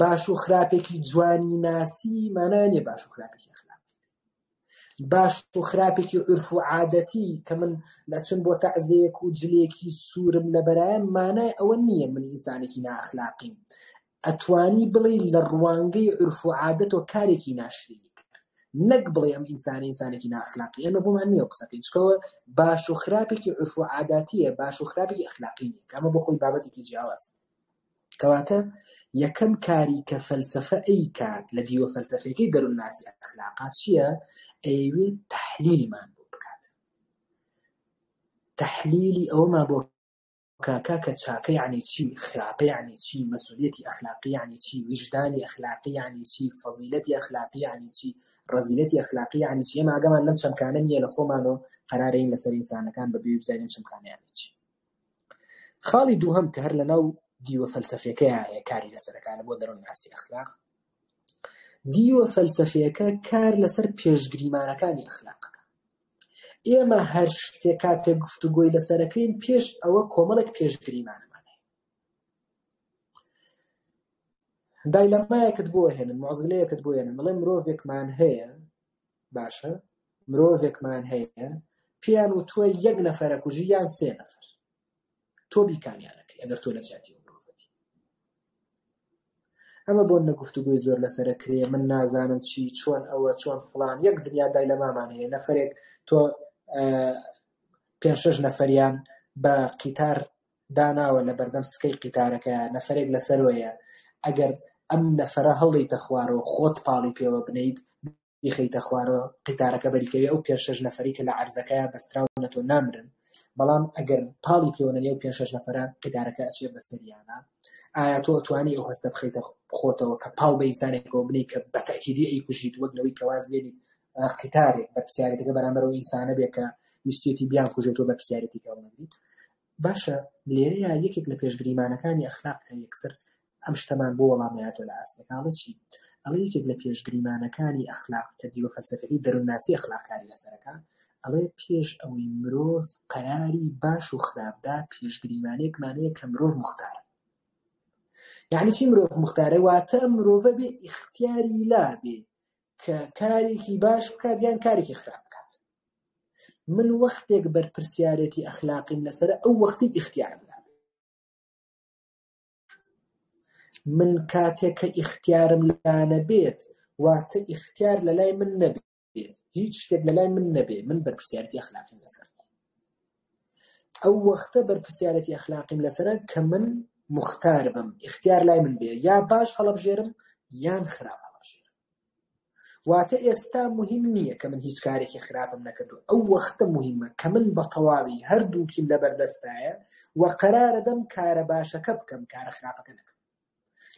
Speaker 1: باش و خراپێکی جوانی ناسی مانانێ باش و خراپێکی خراپ باش و خراپێکی عرف و عادەتی کە من لە چند بۆ تەعزەیەک و جلێکی سوورم لە بەرایەن مانای ئەوە نییە من ئینسانێکی ناخلاقیم ئەتوانی بڵێ لە ڕوانگەی عرف و عادەت و کارێکی ناشری نەک بڵێ ئەم ئینسانی ئینسانێکی ناخلاقی ئەمە بۆمان نییە قسەکەی چکەوە باش و خراپێکی عرف و عاداتیە باش و خراپی ئەخلاقی نیە کەمە بۆ خۆی بابەتێکی جیاواز کەواتە یەکەم کاری کە فەلسەفە ئەیکات لە دیوە فەلسەفیەکەی دەروونناسی ئەخلاقا چییە؟ ئەیەوێت تەحلیلمان بۆ بکات تەحلیلی ئەوەمان بۆ کاکا کە چاکە یعنی چی خراپە یعنی چی مەسوولەتی ئەخلاقی یعنی چی ویژدانی ئەخلاقی یعنی چی فەزیلەتی ئەخلاقی یعنی چی ڕەزیلەتی ئەخلاقی یعنی چی ئێمە ئاگامان لەم چەمکانە نییە لە خۆمانەوە قەرارە این لەسەر ئینسانەکان بەبێ بزانین چەمکانە یعنی چی خاڵی دووهەم کە هەر لەناو دیوە فەلسەفیەکەیا هەیە کاری لەسەر دەکات لە بۆ دەرونناسی ئەخلاق دیوە فەلسەفیەکە کار لەسەر پێشگریمانەکانی ئەخلاق ئێمە هەر شتێک کاتێک گفتوگۆی لەسەرەکەین پێش ئەوە کۆمەڵێک پێشگریمانەمان هەیە دایلەمایەکت بۆ هێنن مۆزلەیەکت بۆ هێنن بڵێ مرۆڤێکمان هەیە باشە مرۆڤێکمان هەیە پێیان وتووە یەک نەفەرە کوژی یان سێ نەفەر تۆ بیکامیانەکەی ئەگەر تۆ لە جیاتی مرۆڤەبی ئەمە بۆ نەگفتوگوی زۆر لەسرە کرێ من نازانم چی چۆن ئەوە چۆن فلان یەک دنیا دای لە مامان هەیە نەفرێک تۆ پێ شش نەفریان بە قیتار داناوە لەبەردەم سکەی قیتارەکەیا نەفەرێک لەسەروەیە ئەگەر ئەم نەفەرە هەڵدەیتە خوارەوە خۆت پاڵی پێوە بنێیت بیخەیتە خوارەوە قیتارەکە بەریکەوی ئەو پێنج شەش نەفەری کە لە عەرزەکەیا بەستراون لەتۆ نامرن بەڵام ئەگەر پاڵی پێوە نەنێ و پێنج شەش نەفەرە قیتارەکە ئەچێ بەسەریانا ئایا تۆ ئەتوانی ئەو هەستە بخەیتە خۆتەوە کە پاڵ بە ئینسانێکەوە بنی کە بە تەئکیدی ئەیکوژیت وەک لەوەی کە واز لێنیت قیتارێک بەرپسیارێتەکە بەرامبەرەوە ئینسانە بێ کە ویستێتی بیان کوژێت و بەرپسیارێتی کە ئەو نەگریت باشە لێرەیا یەکێک لە پێشگریمانەکانی ئەخلاق کە یەکسەر ئەم شتەمان بۆ وەڵام ئەیاتەوە لە ئاستێکا ئەڵێ چی؟ ئەڵێ یەکێک لە پێشگریمانەکانی ئەخلاق کە دیوە فەلسەفیەکەی دەرونناسی ئەخلاق کاری لەسەر ئەکا ئەڵێ پێش ئەوەی مرۆڤ قەراری باش و خراپدا پێشگریمانێکمان هەیە کە مرۆڤ مختارە یعنی چی مرۆڤ مختارە واتە مرۆڤە بێ ئیختیاری لابێ کە کارێکی باش بکات یان کارێکی خراپ بکات من وەختێک بەرپرسیارێتی ئەخلاقیم لەسەر ئەو وەختی ئیختیارم من کاتێک کە ئیختیارم لانە بێت واتە ئیختیار لە لای من نەبێت هیچ شتێک لە لای من نەبێت من بەرپسیارتی ئەخلاقیم لەسەر ئەو وەختە بەرپرسیارێتی ئەخلاقیم لەسەرە کە من موختار بم ئیختیار لای من بێ یا باش هەڵەبژێرم یان خراپ هەڵەبژێرم واتە ئێستا مهم نییە کە من هیچ کارێکی خراپم نەکردو ئەو وەختە مهمە کە من بە تەواوی هەردووکیم لەبەردەستایە و قەرارەدەم کارە باشەکە بکەم کارە خراپەکە نەکەم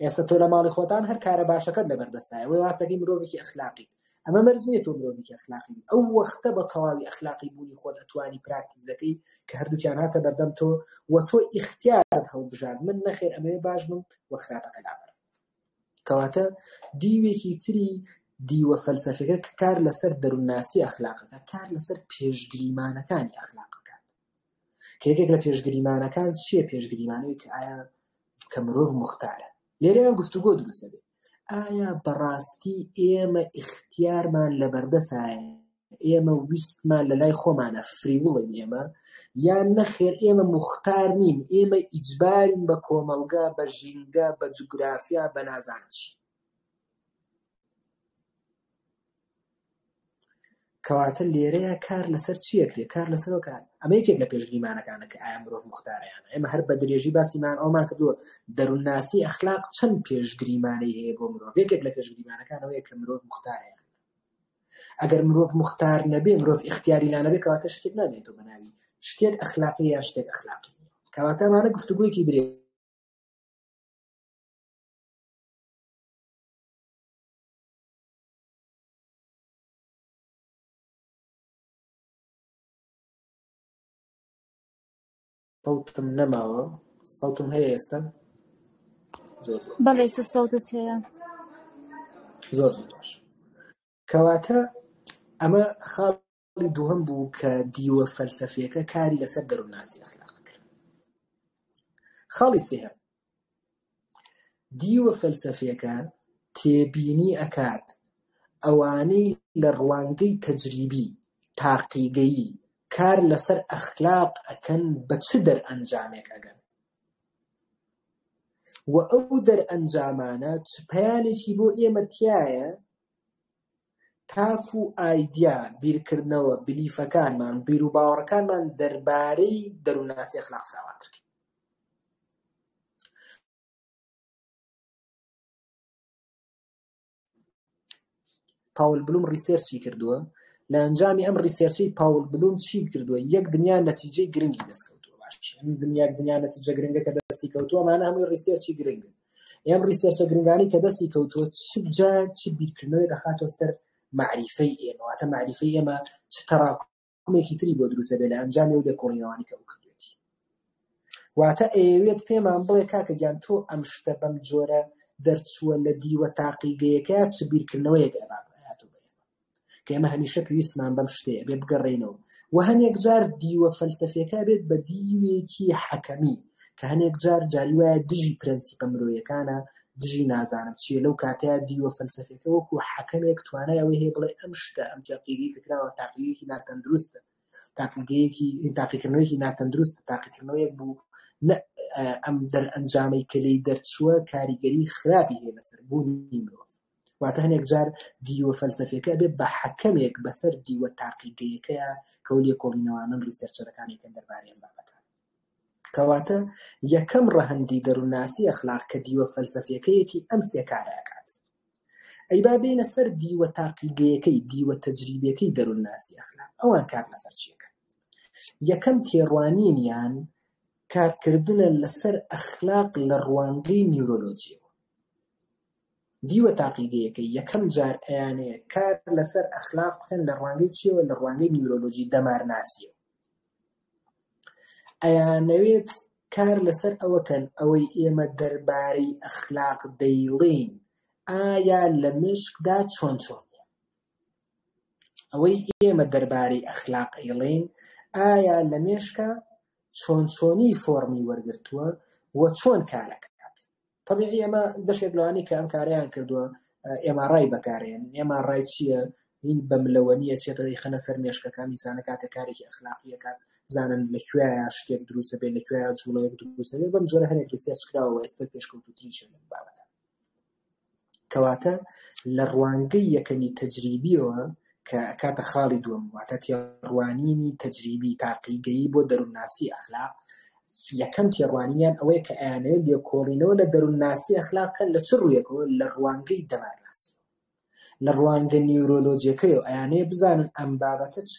Speaker 1: ئێستا تۆ لە ماڵی خۆتان هەر کارە باشەکەت لە بەردەستایە وی واستەکەی مرۆڤێکی ئەخلاقیت ئەمە مەرج نییە تۆ مرۆڤێکی ئەخلاقی ئەو وەختە بە تەواوی ئەخلاقی بوونی خۆت ئەتوانی پراکتیزەکەی کە هەردووکیان هاتە بەردەم تۆ و تۆ ئیختیارت هەڵبژار من نەخێر ئەمەوێ باش بم و خراپەکە لابەر کەواتە دیوێکی تری دیوە فەلسەفەکە کار لەسەر دەرونناسی ئەخلاقەکە کار لەسەر پێشگریمانەکانی ئەخلاق کە یەکێک لە پێشگریمانەکان چییە پێشگریمانەوەی کە ئایا کە مرۆڤ مختارە لێرەیان گفتوگۆ دروستە بێت ئایا بەڕاستی ئێمە ئیختیارمان لە بەردەسایە ئێمە ویستمان لە لای خۆمانە فریوڵین ئێمە یان نەخێر ئێمە مختار نین ئێمە ئیجبارین بە کۆمەلگا بە ژینگە بە جوگرافیا بە نازانش کەواتە لێرەیا کار لەسەر چیە کرێ کار لەسەرەوە کار ئەمە یەکێک لە پێشگریمانەکانە کە ئایا مرۆڤ مختاریان ئێمە هەر بە درێژی باسیمان ئەومان کردووە دەروونناسی ئەخلاق چەند پێشگریمانەی هەیە بۆ مرۆڤ یەکێک لە پێشگریمانەکانەوەی کە مرۆڤ مختاریان ئەگەر مرۆڤ مختار نەبێ مرۆڤ اختیاری لانەبێ کەواتە شتێک نامێتەوە بەناوی شتێک ئەخلاقی یا شتێک ئەخلاقی کەواتەمانە گفتوگویەکی درێ صوتم نەماوە صوتم هەیە ئێستا زۆر زۆر بەڵێ سە
Speaker 2: سەوتت هەیە
Speaker 1: زۆر زۆر باش کەواتە ئەمە خاڵ ساڵی دووهەم بوو کە دیوە فەلسەفیەکە کاری لەسەر دەروونناسی ئەخلاق کرد خاڵی سێهەم دیوە فەلسەفیەکە تێبینی ئەکات ئەوانەی لە ڕوانگەی تەجریبی تاقیگەیی کار لەسەر ئەخلاق ئەکەن بە چ دەرئەنجامێک ئەگەن و ئەو دەرئەنجامانە چ پەیانێکی بۆ ئێمە تایە تاف و ئایدیا، بیرکردنەوە، بلیفەکانمان و بیروباوەڕەکانمان دەربارەی دەروونناسی ئەخلاق فراوانتر کرد. پاول بلوم ڕیسێرچی کردووە لە ئەنجامی ئەم ڕیسێرچی پاول بلوم چی کردووە یەک دنیا نەتیجەی گرنگی دەستکەوتووە باش دنیا دنیا نەتیجە گرنگەکە دەستی کەوتووە مانە هەمووی ڕیسێرچی گرنگن ئەم ڕیسێرچە گرنگانی کە دەستی کەوتووە چ جا چ بیرکردنەوەی دەخاتەوە سەر معریفەی ئێمەواتە معریفەی ئێمە چ تەڕاکمێکی تری بۆ دروستە بێ لە ئەنجامی و دەکۆڵینەوانی کە بکردێتی واتە ئەوێت پێمان بڵێ کاکە گیان تۆ ئەم شتە بەم جۆرە دەرچووە لە دیوە تاقیگەیەکە چ بیرکردنەوەیەک ئەبات کە ئێمە هەمیشە پێویستمان بەم شتەیە بێ بگەڕێینەوە و هەنێک جار دیوە فەلسەفیەکە بێت بە دیوێکی حەکەمی کە هەنێک جار جاری وایە دژی پرەنسیپە مرۆیەکانە دژی نازانم چیە لەو کاتەیە دیوە فەلسەفەکە وەکو حەکەمێک توانای ئەوەی هەیە بڵێ ئەم شتە ئەم تاقیگەی کە کراوە تاقیەکی ناتەندروستە تاقیگەیەکی تاقیکردنەوەیکی ناتەندروست تاقیکردنەوەیەک بوو ئەم دەرئەنجامەی کە لی دەرچووە کاریگەری خراپی هەیە لەسەر بوونی مرۆڤ واتە هەنێک جار دیوە فەلسەفیەکە بێت بە حەکەمێک بەسەر دیوە تاقیگەیەکەیە کە و لێکۆڵینەوانن ڕیسەرچەرەکانێکن دەربارەی ئەم بابەتان کەواتە یەکەم ڕەهەندی دەروونناسی ئەخلاق کە دیوە فەلسەفیەکەیەتی ئەم سێکارە ئەکات ئەی با بینە سەر دیوە تاقیگەیەکەی دیوە تەجریبیەکەی دەروونناسی ئەخلاق ئەوان کار لەسەر چیەکە یەکەم تێڕوانینیان کارکردنە لەسەر ئەخلاق لە ڕوانگەی نیورۆلۆجیەوە دیوە تاقیگەیەکەی یەکەم جار ئەیانەیە کار لەسەر ئەخلاق بکەن لە ڕوانگەی چیەوە لە ڕوانگەی نیورۆلۆجی دەمارناسیەوە ئەیانەوێت کار لەسەر ئەوەکەن ئەوەی ئێمە دەربارەی ئەخلاق دەیڵین ئایا لە مشکدا چۆن چۆن ئەوەی ئێمە دەربارەی ئەخلاق ئەیڵین ئایا لە مێشکە چۆن چۆنی فۆرمی وەرگتووە و چۆن کارەکە تەبیعی ئەمە بەشێک لەوانی کە ئەم کارەیان کردووە ئێمە ڕای بەکارێن ئێمە ڕای چییە هین بە ملەوە نیە چێتەی خەنە سەر مێشکەکان میسانە کاتە کارێکی ئەخلاقیەکان بزانن لە کوێە شتێک دروستە بێت لە کوێ جوڵەیە دروستە بێت بەم جۆرە هەرێک ریسێرچ کراوە ئێستا پێشکەوتوتریش لەم بابەتە کەواتە لە ڕوانگەی یەکەمی تەجریبیەوە کە کاتە خاڵی دووەم واتە تێڕوانینی تەجریبی تاقیگەیی بۆ دەروونناسی ئەخلاق یەکەم تێڕوانینیان ئەوەیە کە ئەیانەوێت لێکۆڵینەوە لە دەروونناسی ئەخلاق بکەن لە چ ڕوویەکەوە لە ڕوانگەی دەمارناسی لە ڕوانگە نیورۆلۆجیەکەی و ئەیانەیە بزانن ئەم بابەتە چ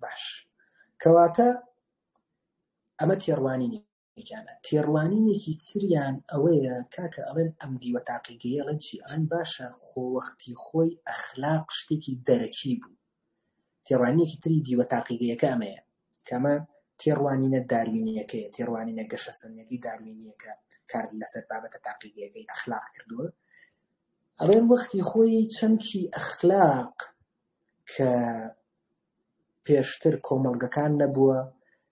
Speaker 1: باش کەواتە ئەمە تێڕوانینی یەکیانە تێڕوانینێکی تریان ئەوەیە کاکە ئەڵێن ئەم دیوە تاقیگەی ئەڵێن چی ئەڵێن باشە خۆوەختی خۆی ئەخلاق شتێکی دەرەکی بوو تێڕوانینێکی تری دیوە تاقیگەیەکە ئەمەیە کەمە تێڕوانینە داروینیەکەی تێڕوانینە گەشە سەنەکەی داروینیەکە کار لەسەر بابەتە تاقیگەکەی ئەخلاق کردووە ئەڵێن وەختی خۆی چەمکی ئەخلاق کە پێشتر کۆمەڵگەکان نەبووە،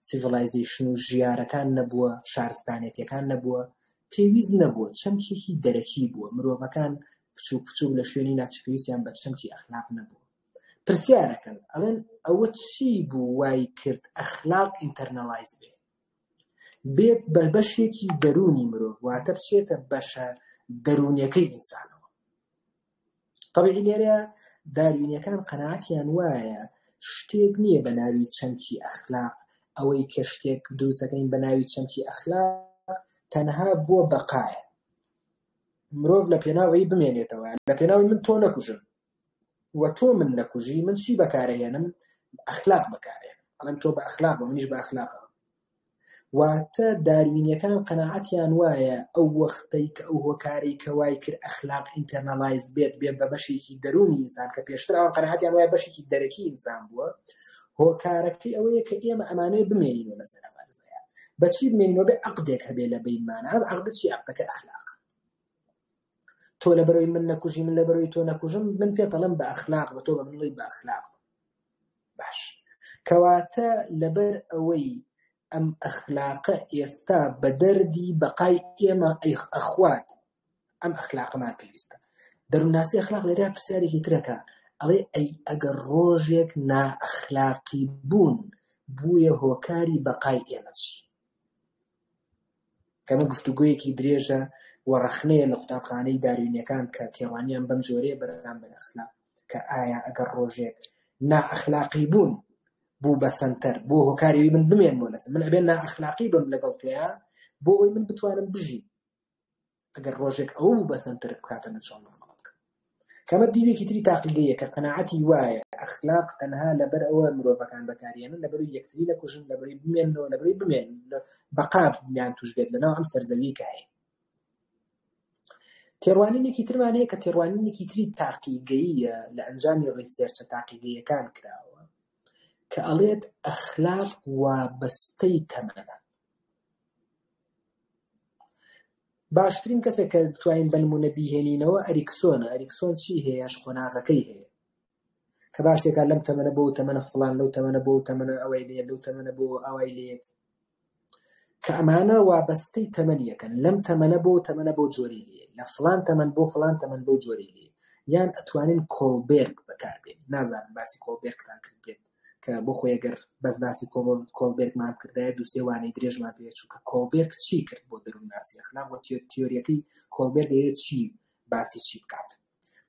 Speaker 1: سیڤڵایزەیشن و ژیارەکان نەبووە، شارستانێتیەکان نەبووە، پێویست نەبووە، چەمکێکی دەرەکی بووە، مرۆڤەکان بچووک بچووک لە شوێنی ناچ پێویستیان بە چەمکی ئەخلاق نەبووە. پرسیارەکەن ئەڵێن ئەوە چی بوو وای کرد ئەخلاق ئینتەرنەڵایز بێ؟ بێت بە بەشێکی دەروونی مرۆڤ واتە بچێتە بەشە دەروونیەکەی ئینسانەوە طبیعی لێرە داروینەکان قەناتیان وایە شتێک نییە بە ناوی چەمکی ئەخلاق ئەوەی کە شتێک دروستەکەین بە ناوی چەمکی ئەخلاق تەنها بۆ بەقایە مرۆڤ لە پێناوەی بمێنێتەوە لە پێناوی من تۆ نەکوژم و تۆ من نەکوژی من چی بەکارەهێنم ئەخلاق بەکارێن ئەڵێن تۆ بە ئەخلاق بە منیش بە ئەخلاقە واتە داروینیەکان قەنەعەتیان وایە ئەو وەختەی کە ئەو هۆکاری کەوای کرد ئەخلاق ئینتەرنەڵایز بێت بێ بە بەشێکی دەرونی ئینسان کە پێشتر ئەوان قەنەعەتیان وایە بەشێکی دەرەکی ئینسان بووە هۆکارەکەی ئەوەیە کە ئێمە ئەمانەیە بمێنینەوە لەسەر ئەمانزایە بەچی بمێنەوە بێ عقدێک هەبێ لە بینمانە ئەم عقدە چی عقدەکە ئەخلاق تۆ لەبەرەوەی من نەکوژی من لەبەرەوەی تۆ نەکوژم من پێتەڵم بە ئەخلاق بە تۆ بە منڵی بە ئەخلاق باش کەواتە لەبەر ئەوەی ئەم ئەخلاقە ئێستا بە دەردی بەقای ئێمە ئەیخ ئەخوات ئەم ئەخلاقمان پێویستە دەروناسی ئەخلاق لێرا پرسیارێکی ترەکە ئەڵێ ئەی ئەگەر ڕۆژێک نائەخلاقی بوون بووە هۆکاری بەقای ئێمەش ئەمە گفتوگۆیەکی درێژە و ڕەخنەیە لە قوتابخانەی داروینیەکان کە تێڕوانیان بەم جۆرەیە بەرامبەر ئەخلاق کە ئایا ئەگەر ڕۆژێک نائەخلاقی بوون بوو بە سەنتەر بۆ هۆکارەوی من بمێنمەوە لەسەر من ئەبێ نائەخلاقی بم لەگەڵ تۆیان بۆ ئەوی من بتوانم بژیم ئەگەر ڕۆژێک ئەو بوو بەسەن ترک بکاتە نەچۆن مامەڵە بکە کەمە دیوێکی تری تاقیگەیە کە قەنەعەتی وایە ئەخلاق تەنها لەبەر ئەوە مرۆڤەکان بەکاریانن لەبەر یەکتری نەکوژن لەبەری بمێنەوە لەبەری بمێن بەقاب میان توش بێت لەناو ئەم سەرزەوی کە هەیە تێڕوانینێکی ترمان هەیە کە تێڕوانینێکی تری تاقیگەیە لە ئەنجامی ڕیسێرچە تاقیگەیەکان کراوە کە ئەڵێت ئەخلاق وابەستەی تەمەە باشترین کەسێک کە بتوانین بە نموونە بیهێنینەوە ئەریکسۆنە، ئەریکسۆن چی هەیە ئەش قۆناغەکەی هەیە کە باسی ئەکات لەم تەمەنە بۆ ئەو تەمەنە فڵان لەو تەمەنە بۆ ئەو تەمەنە ئەوەی لێ لەو تەمەنە بۆ ئەوای لێت کە ئەمانە وابەستەی تەمەنیەکەن لەم تەمەنە بۆ تەمەنە بۆ جۆری لێ لە فڵان تەمەن بۆ فڵان تەمەن بۆ جۆری لێت یان ئەتوانین کۆڵبێرگ بەکاربێنین نازانم باسی کۆڵبێرگتان کردبێت کە بۆ خۆی گەر بەس باسی کۆڵ کۆڵبێرگمان کردایە دوو سێ وانەی درێژمان پێ چووکە کۆڵبێرگ چی کرد بۆ دەروونناسی ئەخلاق و تیۆریەکەی کۆڵبێرگ دەیەوێت چی باسی چی بکات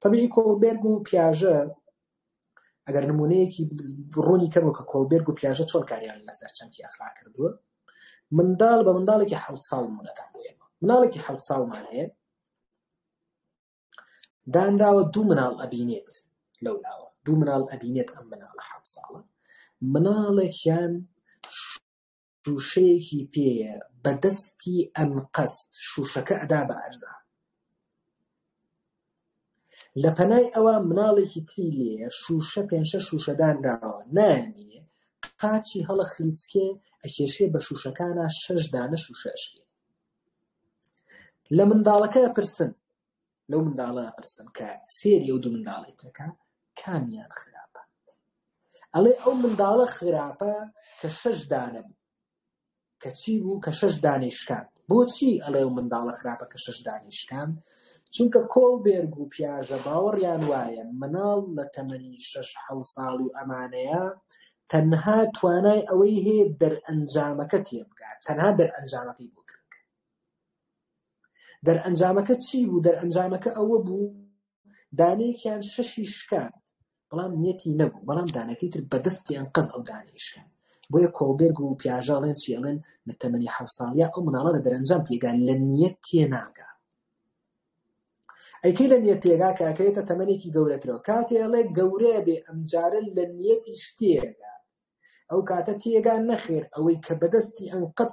Speaker 1: طبیعی کۆڵبێرگ و پیاژە ئەگەر نمونەیەکی ڕوونی کەمەوە کە کۆڵبێرگ و پیاژە چۆن کاریان لەسەر چەمکی ئەخلاق کردووە منداڵ بە منداڵێکی حەوت ساڵ مونەتان بۆ ئێمە مناڵێکی حەوت ساڵمان هەیە دانراوە دوو مناڵ ئەبینێت لەو لاوە دوو مناڵ ئەبینێت ئەم مناڵە حەوت ساڵە مناڵێکیان شوشەیەکی پێیە بە دەستی ئەنقەست شوشەکە ئەدا بە ئەرزان لە پەنای ئەوە مناڵێکی تری لێ شوشە پێنشە شوشەدانراوە نامینێ قاچی هەڵە خلیسکێ ئەکێشێ بە شوشەکانە شەش دانە شوشەشکێ لە منداڵەکە ئەپرسن لەو منداڵە ئەپرسن کە سێری ئەو دوو منداڵی ترەکە کامیان خراپە ئەڵێ ئەو منداڵە خراپە کە شەش دانە بوو کە چی بوو کە شەش دانەی شکاند بۆچی ئەڵێ ئەو منداڵە خراپە کە شەش دانەی شکاند چونکە کۆڵ بێرگ و پیاژە باوەڕیان وایە مناڵ لە تەمەنی شەش حەو ساڵی و ئەمانەیە تەنها توانای ئەوەی هەیە دەرئەنجامەکە تێبگات، تەنها دەرئەنجامەکەی بۆ گرنگە. دەرئەنجامەکە چی بوو؟ دەرئەنجامەکە ئەوە بوو دانەیەکیان شەشی شکاند، بەڵام نیەتی نەبوو، بەڵام دانەکەی تر بەدەستیان قەز ئەو دانەی شکاند. بۆیە کۆڵبێرگ و پیاژە ئەڵێن چی؟ ئەڵێن لە تەمەنی حەوت ساڵیا ئەو مناڵە لە دەرئەنجام تێگا، لە نیەت تێناگا. ئەی کەی لە نیەت تێگا کە ئەکەوێتە تەمەنێکی گەورەترەوە کاتێ ئەڵێ گەورەیە بێ ئەمجارە لە نیەتیش تێگا ئەو کاتە تێگا نەخێر ئەوەی کە بەدەستی ئەنقەد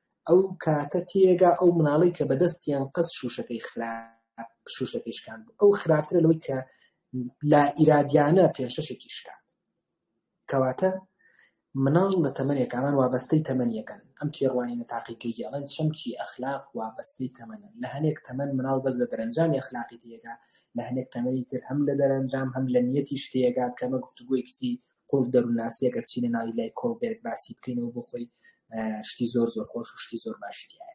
Speaker 1: ئەو کاتە تێگا ئەو مناڵی کە بەدەستیان قەز شوشەکەی خراپ شوشەکەی شکان بوو ئەو خراپترە لەوەی کە لا ئیرادیانە پێشەشێکی شکات کەواتە مناڵ لە تەمەنێک ئەمان وابەستەی تەمەنیەکەن ئەم تێڕوانی نەتاقیکەی گەڵەن چەمکی ئەخلاق وابەستەی تەمەنە لە هەنێک تەمەن مناڵ بەس لە دەرەنجامی ئەخلاقی تێگا لە هەنێک تەمەنی تر هەم لە دەرەنجام هەم لە نیەتی شتێگات کەمە گفتوگوۆی کتی قوڵ دەروناسی ئەگەر چینە ناوی لای کۆڵبێرگ باسی بکەینەوە بۆ خۆی شتی زۆر زۆر خۆش و شتی زۆر باشتیە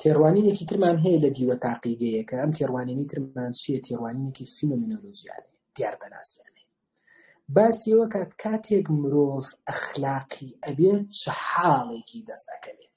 Speaker 1: تێڕوانینێکی ترمان هەیە لە دیوە تاقیگەیەکە ئەم تێڕوانینی ترمان چیە تێڕوانینێکی فینۆمینۆلۆژیانێ دیاردەناسیانێ باسیەوە کات کاتێک مرۆڤ ئەخلاقی ئەبێت چ حاڵێکی دەستەکەوێت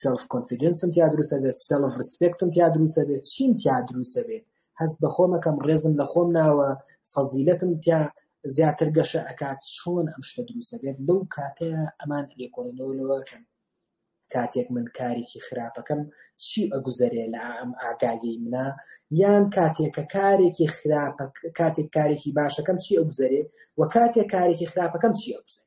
Speaker 1: سێلف کۆنفیدنسم تیا دروست ئەبێت سێلف ڕسپێکتم تیا دروست ئەبێت چیم تیا دروست ئەبێت هەست بە خۆمەکەم ڕێزم لە خۆم ناوە فەزیلەتم تیا زیاتر گەشە ئەکات چۆن ئەم شتە دروست ئەبێت لەو کاتە ئەمان لێکۆڵینەوە لەوەکەن کاتێک من کارێکی خراپەکەم چی ئەگوزەرێ لە ئەم ئاگالی منە یان کاتێکە کارێکی خراپە کاتێک کارێکی باشەکەم چی ئەگوزەرێ و کاتێک کارێکی خراپەکەم چی ئەگوزەرێ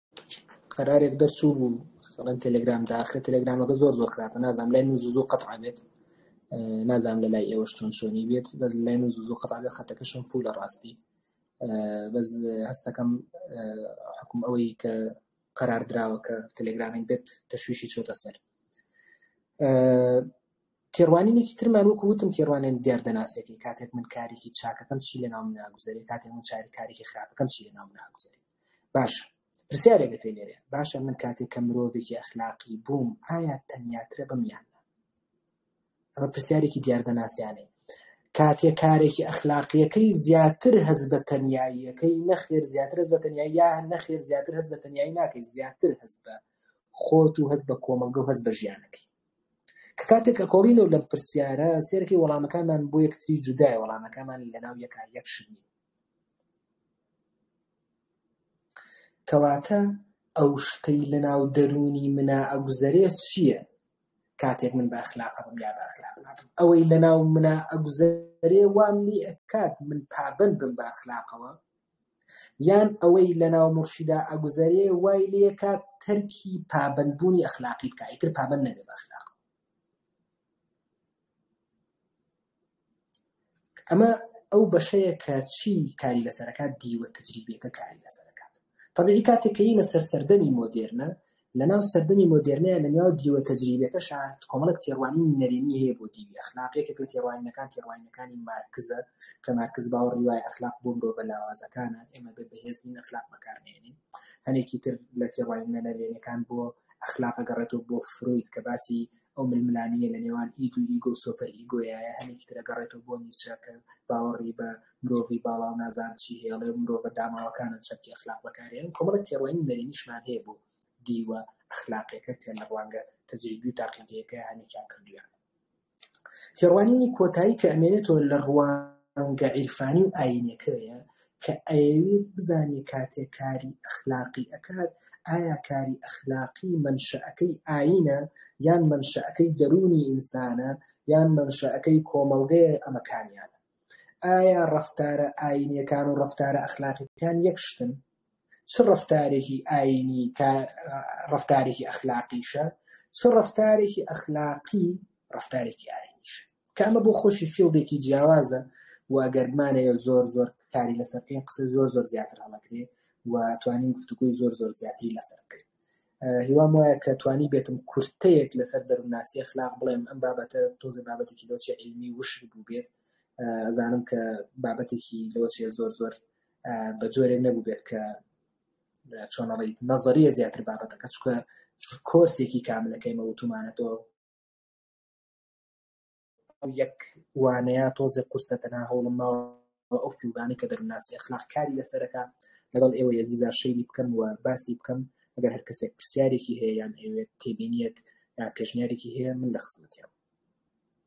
Speaker 1: قەرارێک دەرچوو بوو سەڵەن تەلگرام داخرە تەلگرامەکە زۆر زۆر خراپە نازام لای من زوو قەت بێت نازام لە لای ئێوەش چۆن شۆنی بێت بەس لای من زوو قەت بێت خەتەکەشم فول لە ڕاستی بەس هەستەکەم حکوم ئەوەی کە قەرار دراوە کە تەلگرامین بێت تەشویشی چۆتە سەر تێڕوانینێکی ترمان وەکو وتم تێڕوانێن دیاردەناسێکی کاتێک من کارێکی چاکەکەم چی لە ناو ناگوزاری کاتێک من چاریکارێکی خراپەکەم چی لە ناو ناگوزاری باشە پرسیارێک دەکرێت لێرە باشە من کاتێک کە مرۆڤێکی ئەخلاقی بووم ئایا تەنیاترە بم یان ئەمە پرسیارێکی دیاردە ناسیانەی کاتێ کارێکی ئەخلاقیەکەی زیاتر هەز بە تەنیاییەکەی نەخێر زیاتر هەز بە تەنیایی یا نەخێر زیاتر هەز بە تەنیایی ناکەی زیاتر هەست بە خۆت و هەز بە کۆمەلگە و هەز بە ژیانەکەی کە کاتێک کە کۆڵینەوە لەم پرسیارە سێرەکەی وەڵامەکانمان بۆ یەکتری جودای وەڵامەکەمان لەناو یەکا یەکشنی کەواتە ئەو شتەی لەناو دەروونی منا ئەگوزەرێ چییە کاتێک من بە ئەخلاق ئەبم یا بە ئەخلاق نابم؟ ئەوەی لەناو منا ئەگوزەرێ وام لێ ئەکات من پابەند بم بە ئەخلاقەوە یان ئەوەی لەناو موڕشیدا ئەگوزەرێ وای لێ ئەکات تەرکی پابەندبوونی ئەخلاقی بکا ئیتر پابەند نەبێ بە ئەخلاق ئەمە ئەو بەشەیە کە چی کاری لەسەرەکات دیوە تجریبیەکە کاری لەسەرەکات طبیعی کاتێک کە یینە سەر سەردەمی مۆدێرنە لەناو سەردەمی مۆدێرنەیە لەناو دیوە تجریبیەکەشا کۆمەڵێک تێڕوانین نەرێنی هەیە بۆ دیوی ئەخلاق یەکێک لە تێڕوانینەکان تێڕوانینەکانی مارکزە کە مارکز باوەڕی وایە ئەخلاق بۆ مرۆڤە لاوازەکانە ئێمە بێ بەهێز نین ئەخلاق بەکار نێنین هەنێکی تر لە تێڕوانینە نەرێنیەکان بۆ ئەخلاق گەڕێتەوە بۆ فروید کە باسی ئەو ململانێیە لە نێوان ئید و ئیگۆ و سۆپەر ئیگۆیایە هەنێکی تر ئەگەڕێتەوە بۆ نیچە کە باوەڕی بە مرۆڤی باڵا و نازانم چی هەیە ئەڵێ مرۆڤە داماوەکانە چەمکی ئەخلاق بەکارێنن یعنی کۆمەڵێک تێڕوانینی نەرێنیشمان هەیە بۆ دیوە ئەخلاقیەکە کە لە ڕوانگە تەجریبی و تاقیگەیەکەیان هەنێکیان کردوویانە تێڕوانینی کۆتایی کە ئەمێنێتەوە لە ڕوان ڕوانگە عیرفانی و ئایینیەکەیە کە ئەیەوێت بزانێت کاتێک کاری ئەخلاقی ئەکات ئایا کاری ئەخلاقی مەنشەئەکەی ئایینە یان مەنشەئەکەی دەروونی ئینسانە یان مەنشەئەکەی کۆمەڵگەیە ئەمە کامیانە ئایا ڕەفتارە ئایینیەکان و ڕەفتارە ئەخلاقیەکان یەک شتن چ ڕەفتارێکی ئاینی تا ڕەفتارێکی ئەخلاقیشە چ ڕەفتارێکی ئەخلاقی ڕەفتارێکی ئاینیشە کە ئەمە بۆ خۆشی فیلدێکی جیاوازە و ئەگەر بمانەیە زۆر زۆر کاری لەسەر بکەین قسە زۆر زۆر زیاتر هەڵەگرێ و توانین گفتوگوی زۆر زۆر زیاتری لەسەر بکەین هیوام وایە کە توانی بێتم کورتەیەک لەسەر دەروناسی خلاق بڵێم ئەم بابەتە تۆزە بابەتێکی لۆچی علمی وشک بوو بێت ئەزانم کە بابەتێکی لۆچێ زۆر زۆر بە جۆرێک نەبوو بێت کە چۆنەڵی نەزەریە زیاتر بابەتەکە چکە کۆرسێکی کاملەکەیمە وتومانەتەوە یەک وانەیە تۆزێ قورسە تەنا هەوڵم ماوە ئەو فیلدانی کە دەرناسی ئەخلاق کاری لەسەرەکە لەگەڵ ئێوە یەزیزا شەیلی بکەم و باسی بکەم ئەگەر هەر کەسێک پرسیارێکی هەیە یان ئەوێت تێبینیەک یا پێشنیارێکی هەیە من لە خزمەتیان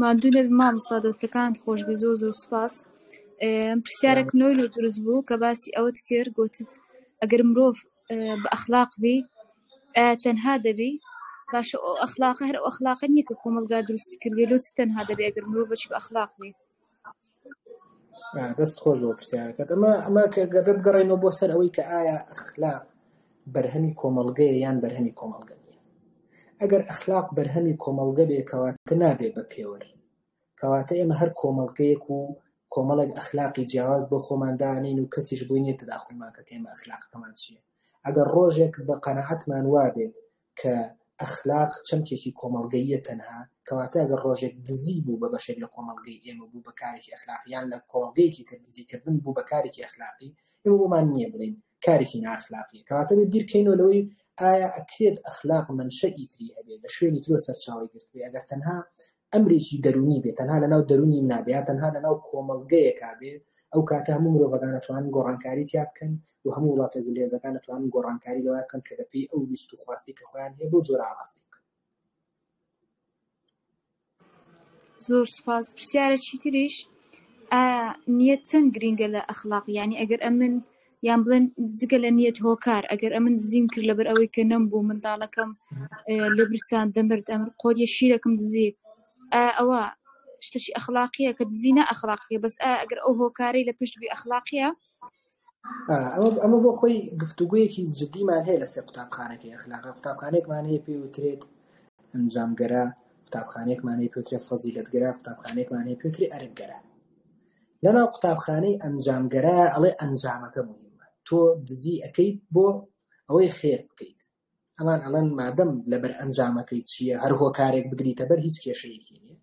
Speaker 2: ماندوو نەبی مامۆستا دەستەکانت خۆشبی زۆر زۆر سوپاس پرسیارە کنۆی لۆ دروست بوو کە باسی ئەوەت کرد گۆتت ئەگەر مرۆڤ بە ئەخلاق بی ئایا تەنها دەبی باشە ئەو ئەخلاقە هەر ئەو ئەخلاقە نیە کە کۆمەڵگا دروستی کردوە لۆ چ تەنها دەبی ئەگەر مرۆڤەکی بە ئەخلاق بی؟
Speaker 1: دەست خۆش بۆ پرسیارەکەت ئەمە ئەمە کە گەبێ بگەڕێنەوە بۆ سەر ئەوەی کە ئایا ئەخلاق بەرهەمی کۆمەڵگەیە یان بەرهەمی کۆمەڵگە نیە ئەگەر ئەخلاق بەرهەمی کۆمەڵگە بێ کەواتە نابێ بە پێوەر کەواتە ئێمە هەر کۆمەڵگەیەک و کۆمەڵێک ئەخلاقی جیاواز بۆ خۆمان دانین و کەسیش بووی نیە تداخلمان کە کەمە ئەخلاقەکەمان چیە ئەگەر ڕۆژێک بە قەناعەتمان وابێت کە ئەخلاق چەمکێکی کۆمەڵگەییە تەنها، کەواتە ئەگەر ڕۆژێک دزی بوو بە بەشێک لە کۆمەڵگەی ئێمە بوو بە کارێکی ئەخلاقی یان لە کۆمەڵگەیەکی تر دزی کردن بوو بە کارێکی ئەخلاقی ئێمە بۆمان نییە بڵێین کارێکی نائەخلاقیە کەواتە بێ بیرکەینەوە لەوەی ئایا ئەکرێت ئەخلاق منشەئی تری هەبێت لە شوێنی ترەوە سەرچاوەی گرتبێ ئەگەر تەنها ئەمرێکی دەروونی بێ تەنها لەناو دەروونی منا بێ یا تەنها لەناو کۆمەڵگەیەکا بێ ئەو کاتە هەموو مرۆڤەکان ئەتوانن گۆڕانکاری تیا بکەن و هەموو وڵاتە زلهێزەکان ئەتوانن گۆڕانکاری لەوە بکەن کە بەپێی ئەو ویست و خواستی کە خۆیان هەیە بەو جۆرە ئاڕاستی بکەن.
Speaker 2: زۆر سپاس پرسیارە چیتریش ئایا نیەت چەند گرینگە لە ئەخلاق یعنی ئەگەر ئەمن یان بڵێن جگە لە نیەت هۆکار ئەگەر ئەمن دزیم کرد لەبەر ئەوەی کە نەم بوو منداڵەکەم لە برسان دەمرد ئەمر قۆدیە شیرەکەم دزی ئەوە شتەشی ئەخلاقیە کە دزی نە ئەخلاقیە بەس ئەگەر ئەو هۆکارەی لە پشت بی ئەخلاقیە
Speaker 1: ئەمە بۆ خۆی گفتوگویەکی جددیمان هەیە لەسەر قوتابخانەکەی ئەخلاقە قوتابخانێکمان هەیە پێ وترێت ئەنجامگەرە قوتابخانێکمانەی پێترێ فەزیلەتگەرا قوتابخانێکمانەی پێتری ئەرکگەرە لەناو قوتابخانەی ئەنجامگەرا ئەڵێ ئەنجامەکە موهیمە تۆ دزی ئەەکەیت بۆ ئەوەی خێر بکەیت ئەمان ئەڵەن مادەم لەبەر ئەنجامەکەی چییە هەر هۆکارێک بگریتە بەر هیچ کێشەیەکی نیە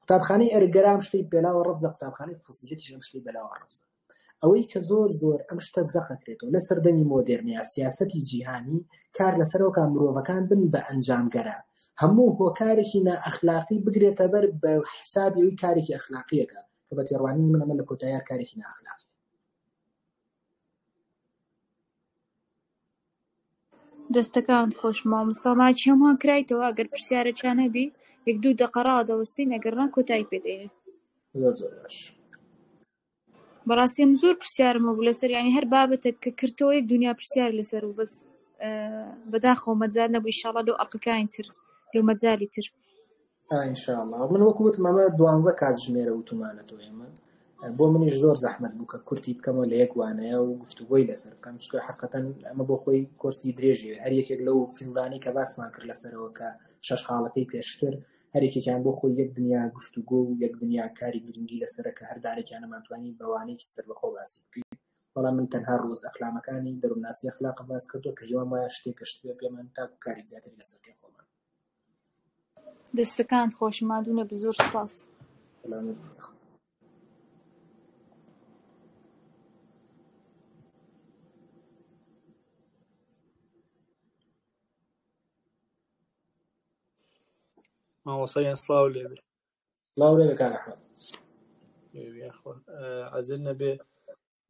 Speaker 1: قوتابخانەی ئەرگەرام شتەی پێلاوە ڕفزە قوتابخانەی فسیلەتی ژەم شتەی بەلاوە ڕفزە ئەوەی کە زۆر زۆر ئەم شتە زەقەکرێتەوە لە سەردەمی مۆدررنیا سیاستی جیهانی کار لەسەرەوە کا مرۆڤەکان بن بە ئەنجامگەران هەموو هۆکارێکی نائەخلاقی بگرێتە بەر بە حسابی ئەوی کارێکی ئەخلاقیەکە کە بە تێڕوانینی من ئەمە لە کۆتاییار کارێکی ناخلاقی
Speaker 2: دەستەکان خۆش مامۆستا ماچی هەمووان کرایتەوە ئەگەر پرسیارە چانەبی یەک دوو دەقەڕا دەوەستین ئەگەر ڕان کۆتایی پێدەین زۆر زۆر
Speaker 1: باش بەڕاستی
Speaker 2: من زۆر پرسیارم هەبوو لەسەر یانی هەر بابەتێک کە کردەوە یەک دنیا پرسیار لەسەر و بەس بەداخەوە مەجال نەبوو ئیشاڵا لەو ئەڵقەکانی تر لەو مەجالی تر ئینشاءالله
Speaker 1: من وەکو وتم ئەمە دوانزە کاتژمێرە وتومانەتەوە ئێمە بۆ منیش زۆر زەحمت بوو کە کورتی بکەمەوە لە یەک وانەیە و گفتوگۆی لەسەر بکەم چکە حقەتەن ئەمە بۆ خۆی کۆرسی درێژی هەر یەکێک لەو فیلدانی کە باسمان کرد لەسەرەوە کە شەش خاڵەکەی پێشتر هەر یەکێکیان بۆ خۆی یەک دنیا گفتوگۆ و یەک دنیا کاری گرنگی لەسەرە کە هەر دانێکیان نەمانتوانی بە وانەیەکی سەربەخۆ باسی بکەین، بەڵام من تەنها ڕووز ئەخلامەکانی دەروونناسی ئەخلاقم باس کردووە کە هیوام وایە شتێک گەشت بێ پێمان تاکو کاری زیاتری لەسەر بکەین خۆمان. دەستەکانت
Speaker 2: خۆش ماندوو نەبی زۆر سوپاس. سەلامەت
Speaker 3: بی یاخوا. مامۆستا گیان سڵاو لێبێ سڵاو لێبێ
Speaker 1: کاک ئەحمەد
Speaker 3: عەزێت نەبێ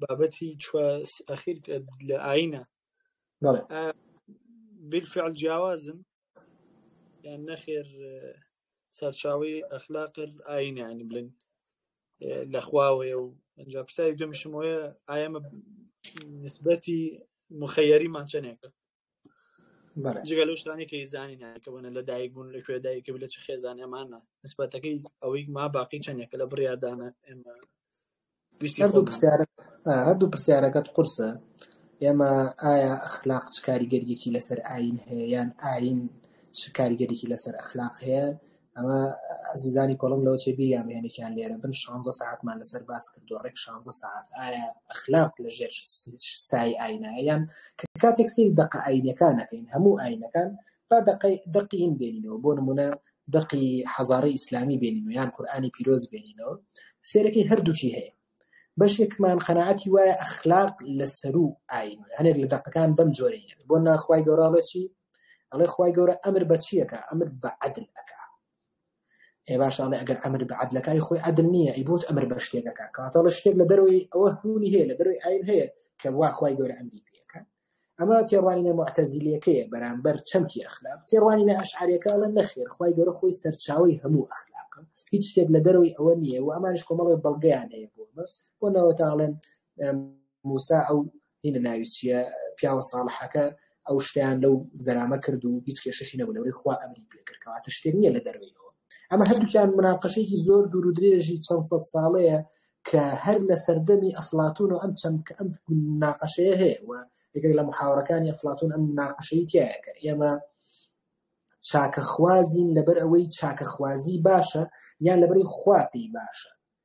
Speaker 3: بابەتی چوە ئەخیر لە ئاینە بالفعل جیاوازن یان نەخێر سەرچاوی ئەخلاقر ئاینیانی بلین لە خواوەیە و ئەجا پرسای دومیشمەوەە ئایەمە نسبەتی مخەیەریمان چەندێکە جگە لەو شتانی کە زانین کە بەە لە دایک بوون لە کوێ دایکە لە چ خێزان ئەمانە نسبەتەکەی ئەوەی ما باقی چەندێکە لە بڕیاردانە ئێمە
Speaker 1: هەردوو پرسیارەکەت قورسە ئێمە ئایا ئەخلاق چ کاریگەریەکی لەسەر ئاین هەیە یان ئاین چ کاریگەریکی لەسەر ئەخلاق هەیە ئەمە ئەزیزانی کۆڵم لەوە چێ بیریان بێنێکیان لێرە بن شانزە ساعتمان لەسەر باس کردو ڕێک شانزە ساعت ئایا ئەخلاق لە ژێر سای ئاینایان کە کاتێک سیر دقە ئاینەکانەکەین هەموو ئاینەکان با دقی دقیین بێنینەوە بۆ نمونە دقی حەزارە ئیسلامی بێنین و یان قورآانی پیرۆز بێنینەوە سێرەکەی هەردووکی هەیە بەشێکمان قەنەعەتی وایە ئەخلاق لە سەرو ئاین هەنێک لە دقەکان بەم جۆرەیە بۆ ناخوای گەۆراڵەتی ئەڵێ خوای گەورە ئەمر بە چیەکە ئەمر بە عدل ئەکا ئێ باش ئەڵێ ئەگەر ئەمر بە عدلەکانی خۆی عدل نییە ئەی بۆت ئەمر بە شتێکەکە کاتەڵە شتێک لە دەروی ئەوە هونی هەیە لە دەروی ئاین هەیە کە وا خوای گەورە ئەمری پێەکە ئەمە تێڕوانینە معتەزیلەکەیە بەرامبەر چەمکی ئەخلاق تێڕوانینە ئەشعارەکە ئەڵە نەخێر خوای گەورە خۆی سەرچاوی هەموو ئەخلاقە هیچ شتێک لە دەروی ئەوە نییە و ئەمانش کۆمەڵی بەڵگەیان هەیە بۆ بەس بۆ نەوەتاڵێن موسا ئەو هینە ناوی چییە پیاوە ساڵحەکە ئەو شتیان لەو زەرامە کرد و هیچ کێشەشی نەبوو لەوەی خوا ئەمری پێکردکەوە تە شتێک نییە لە دەروەیەوە ئەمە هەردووکیان مناقەشێکی زۆر دوور و درێژی چەند سەد ساڵەیە کە هەر لە سەردەمی ئەفلاتون و ئەم چەند کە ئەم ناقەشەیە هەیە و یەکێک لە محاورەکانی ئەفلاتون ئەم ناقەشەی تایەکە ئێمە چاکەخوازین لەبەر ئەوەی چاکەخوازی باشە یان لەبەری خوا پێی باشە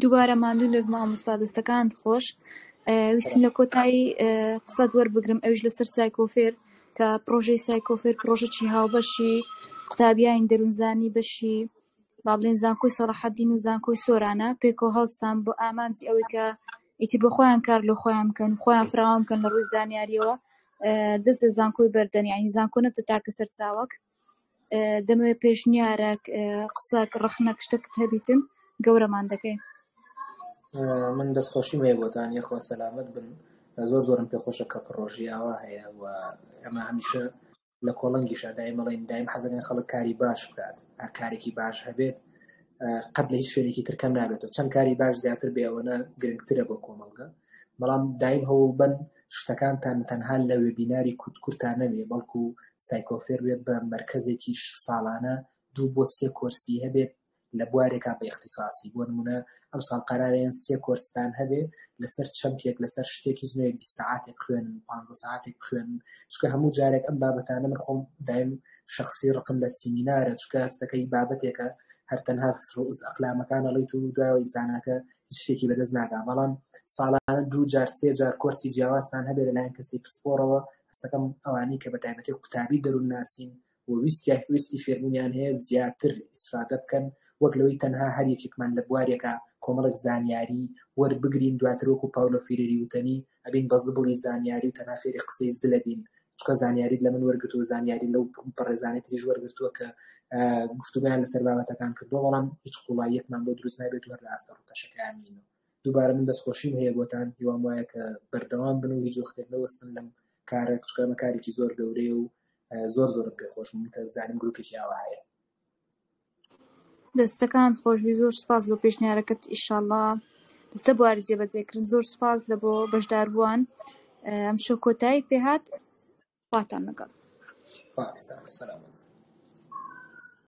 Speaker 2: دووبارە ماندوو لە مامۆستا دەستەکان خۆش ویسم لە کۆتایی قسەت وەربگرم ئەوش لەسەر سایکۆفێر کە پرۆژەی سایکۆفێر پرۆژەی هاوبەشی قوتابیانی دەروونزانی بەشی با بڵێین زانکۆی سەڵاحەدین و زانکۆی سۆرانە پێکۆ هەڵستان بۆ ئامانجی ئەوەی کە ئیتی بۆ خۆیان کار لە خۆیان بکەن خۆیان فراوان بکەن لە ڕووی زانیاریەوە دەست لە زانکۆی بەردەن ینی زانکۆ نەبتە تاکە سەر چاوەک دەمەوێت پێشنیارەک قسەک ڕخنە شتەکت هەبیتن گەورەمان دەکەین
Speaker 1: من دەستخۆشی مێ بۆتان یەخوا سەلامت بن زۆر زۆرم پێخۆشە کە پڕۆژیاوە هەیە و ئەمە هەمیشە لە کۆڵنگیشا دایم ئەڵێن دایم حەزەکەن خەڵک کاری باش بکات هەر کارێکی باش هەبێت قەت لە هیچ شوێنێکی تر کەم نابێتەوە چەند کاری باش زیاتر بێەوەە گرنگترە بۆ کۆمەڵگە بەڵام دایم هەوڵ بن شتەکانتان تەنها لە وێبیناری کوتکورتان نەبێ بەڵکو سایکۆفێر بێت بە مرکزێکیش ساڵانە دوو بۆ سێ کۆرسی هەبێت لە بوارێکا بە ئیختیساسی بۆ نموونە ئەمساڵ قەرارە یان سێ کۆرستان هەبێ لەسەر چەمکێک لەسەر شتێک هیچ نەوێ بیست سەعاتێک بخوێنن پانزە سەعاتێک بخوێنن چونکە هەموو جارێک ئەم بابەتانە من خۆم دایم شخصی ڕقم لە سیمینارە چونکە هەستەکەی بابەتێکە هەر تەنها ڕوئوس ئەقلامەکان ئەڵیت و دوایەوەی زاناکە هیچ شتێکی بەدەست ناگا بەڵام ساڵانە دوو جار سێ جار کۆرسی جیاوازتان هەبێ لەلایەن کەسی پسپۆڕەوە هەستەکەم ئەوانەی کە بە تایبەتی قوتابی دەروونناسین و ویستیان ویستی فێربوونیان هەیە زیاتر ئیسفادە بکەن وەک لەوەی تەنها هەر یەکێکمان لە بوارێکا کۆمەڵێک زانیاری وەربگرین دواتر وەکو پاولۆ فیرێری وتەنی ئەبین بە زبڵی زانیاری و تەنها فێری قسەی زلە بین چکە زانیاریت لە من وەرگتو زانیاری لەو بەڕێزانانی تریش وەرگتووە کە گفتوگیان لەسەر بابەتەکان کردو بەڵام هیچ قوڵاییەکمان بۆ دروست نابێت و هەر لە ئاستە ڕوتەشەکانینەوە دووبارە من دەستخۆشیم هەیە بۆتان هیوام وایە کە بەردەوام بن و هیچ وەختێک نەوەستن لەم کارەک چکە ئەمە کارێکی زۆر گەورەیە و زۆر زۆرم پێ خۆش من کە زانیم گروپێکی ئاوا هەیە
Speaker 2: دەستەکان خۆشبی زۆر سپاس بۆ پێشنیارەکەت ئیشاءله دەستە بواری جێبەجێکردن زۆر سپاس لە بۆ بەشدار بووان ئەم شو کۆتایی
Speaker 1: پێهات
Speaker 2: خواتان لەگەڵ پاکستان سلام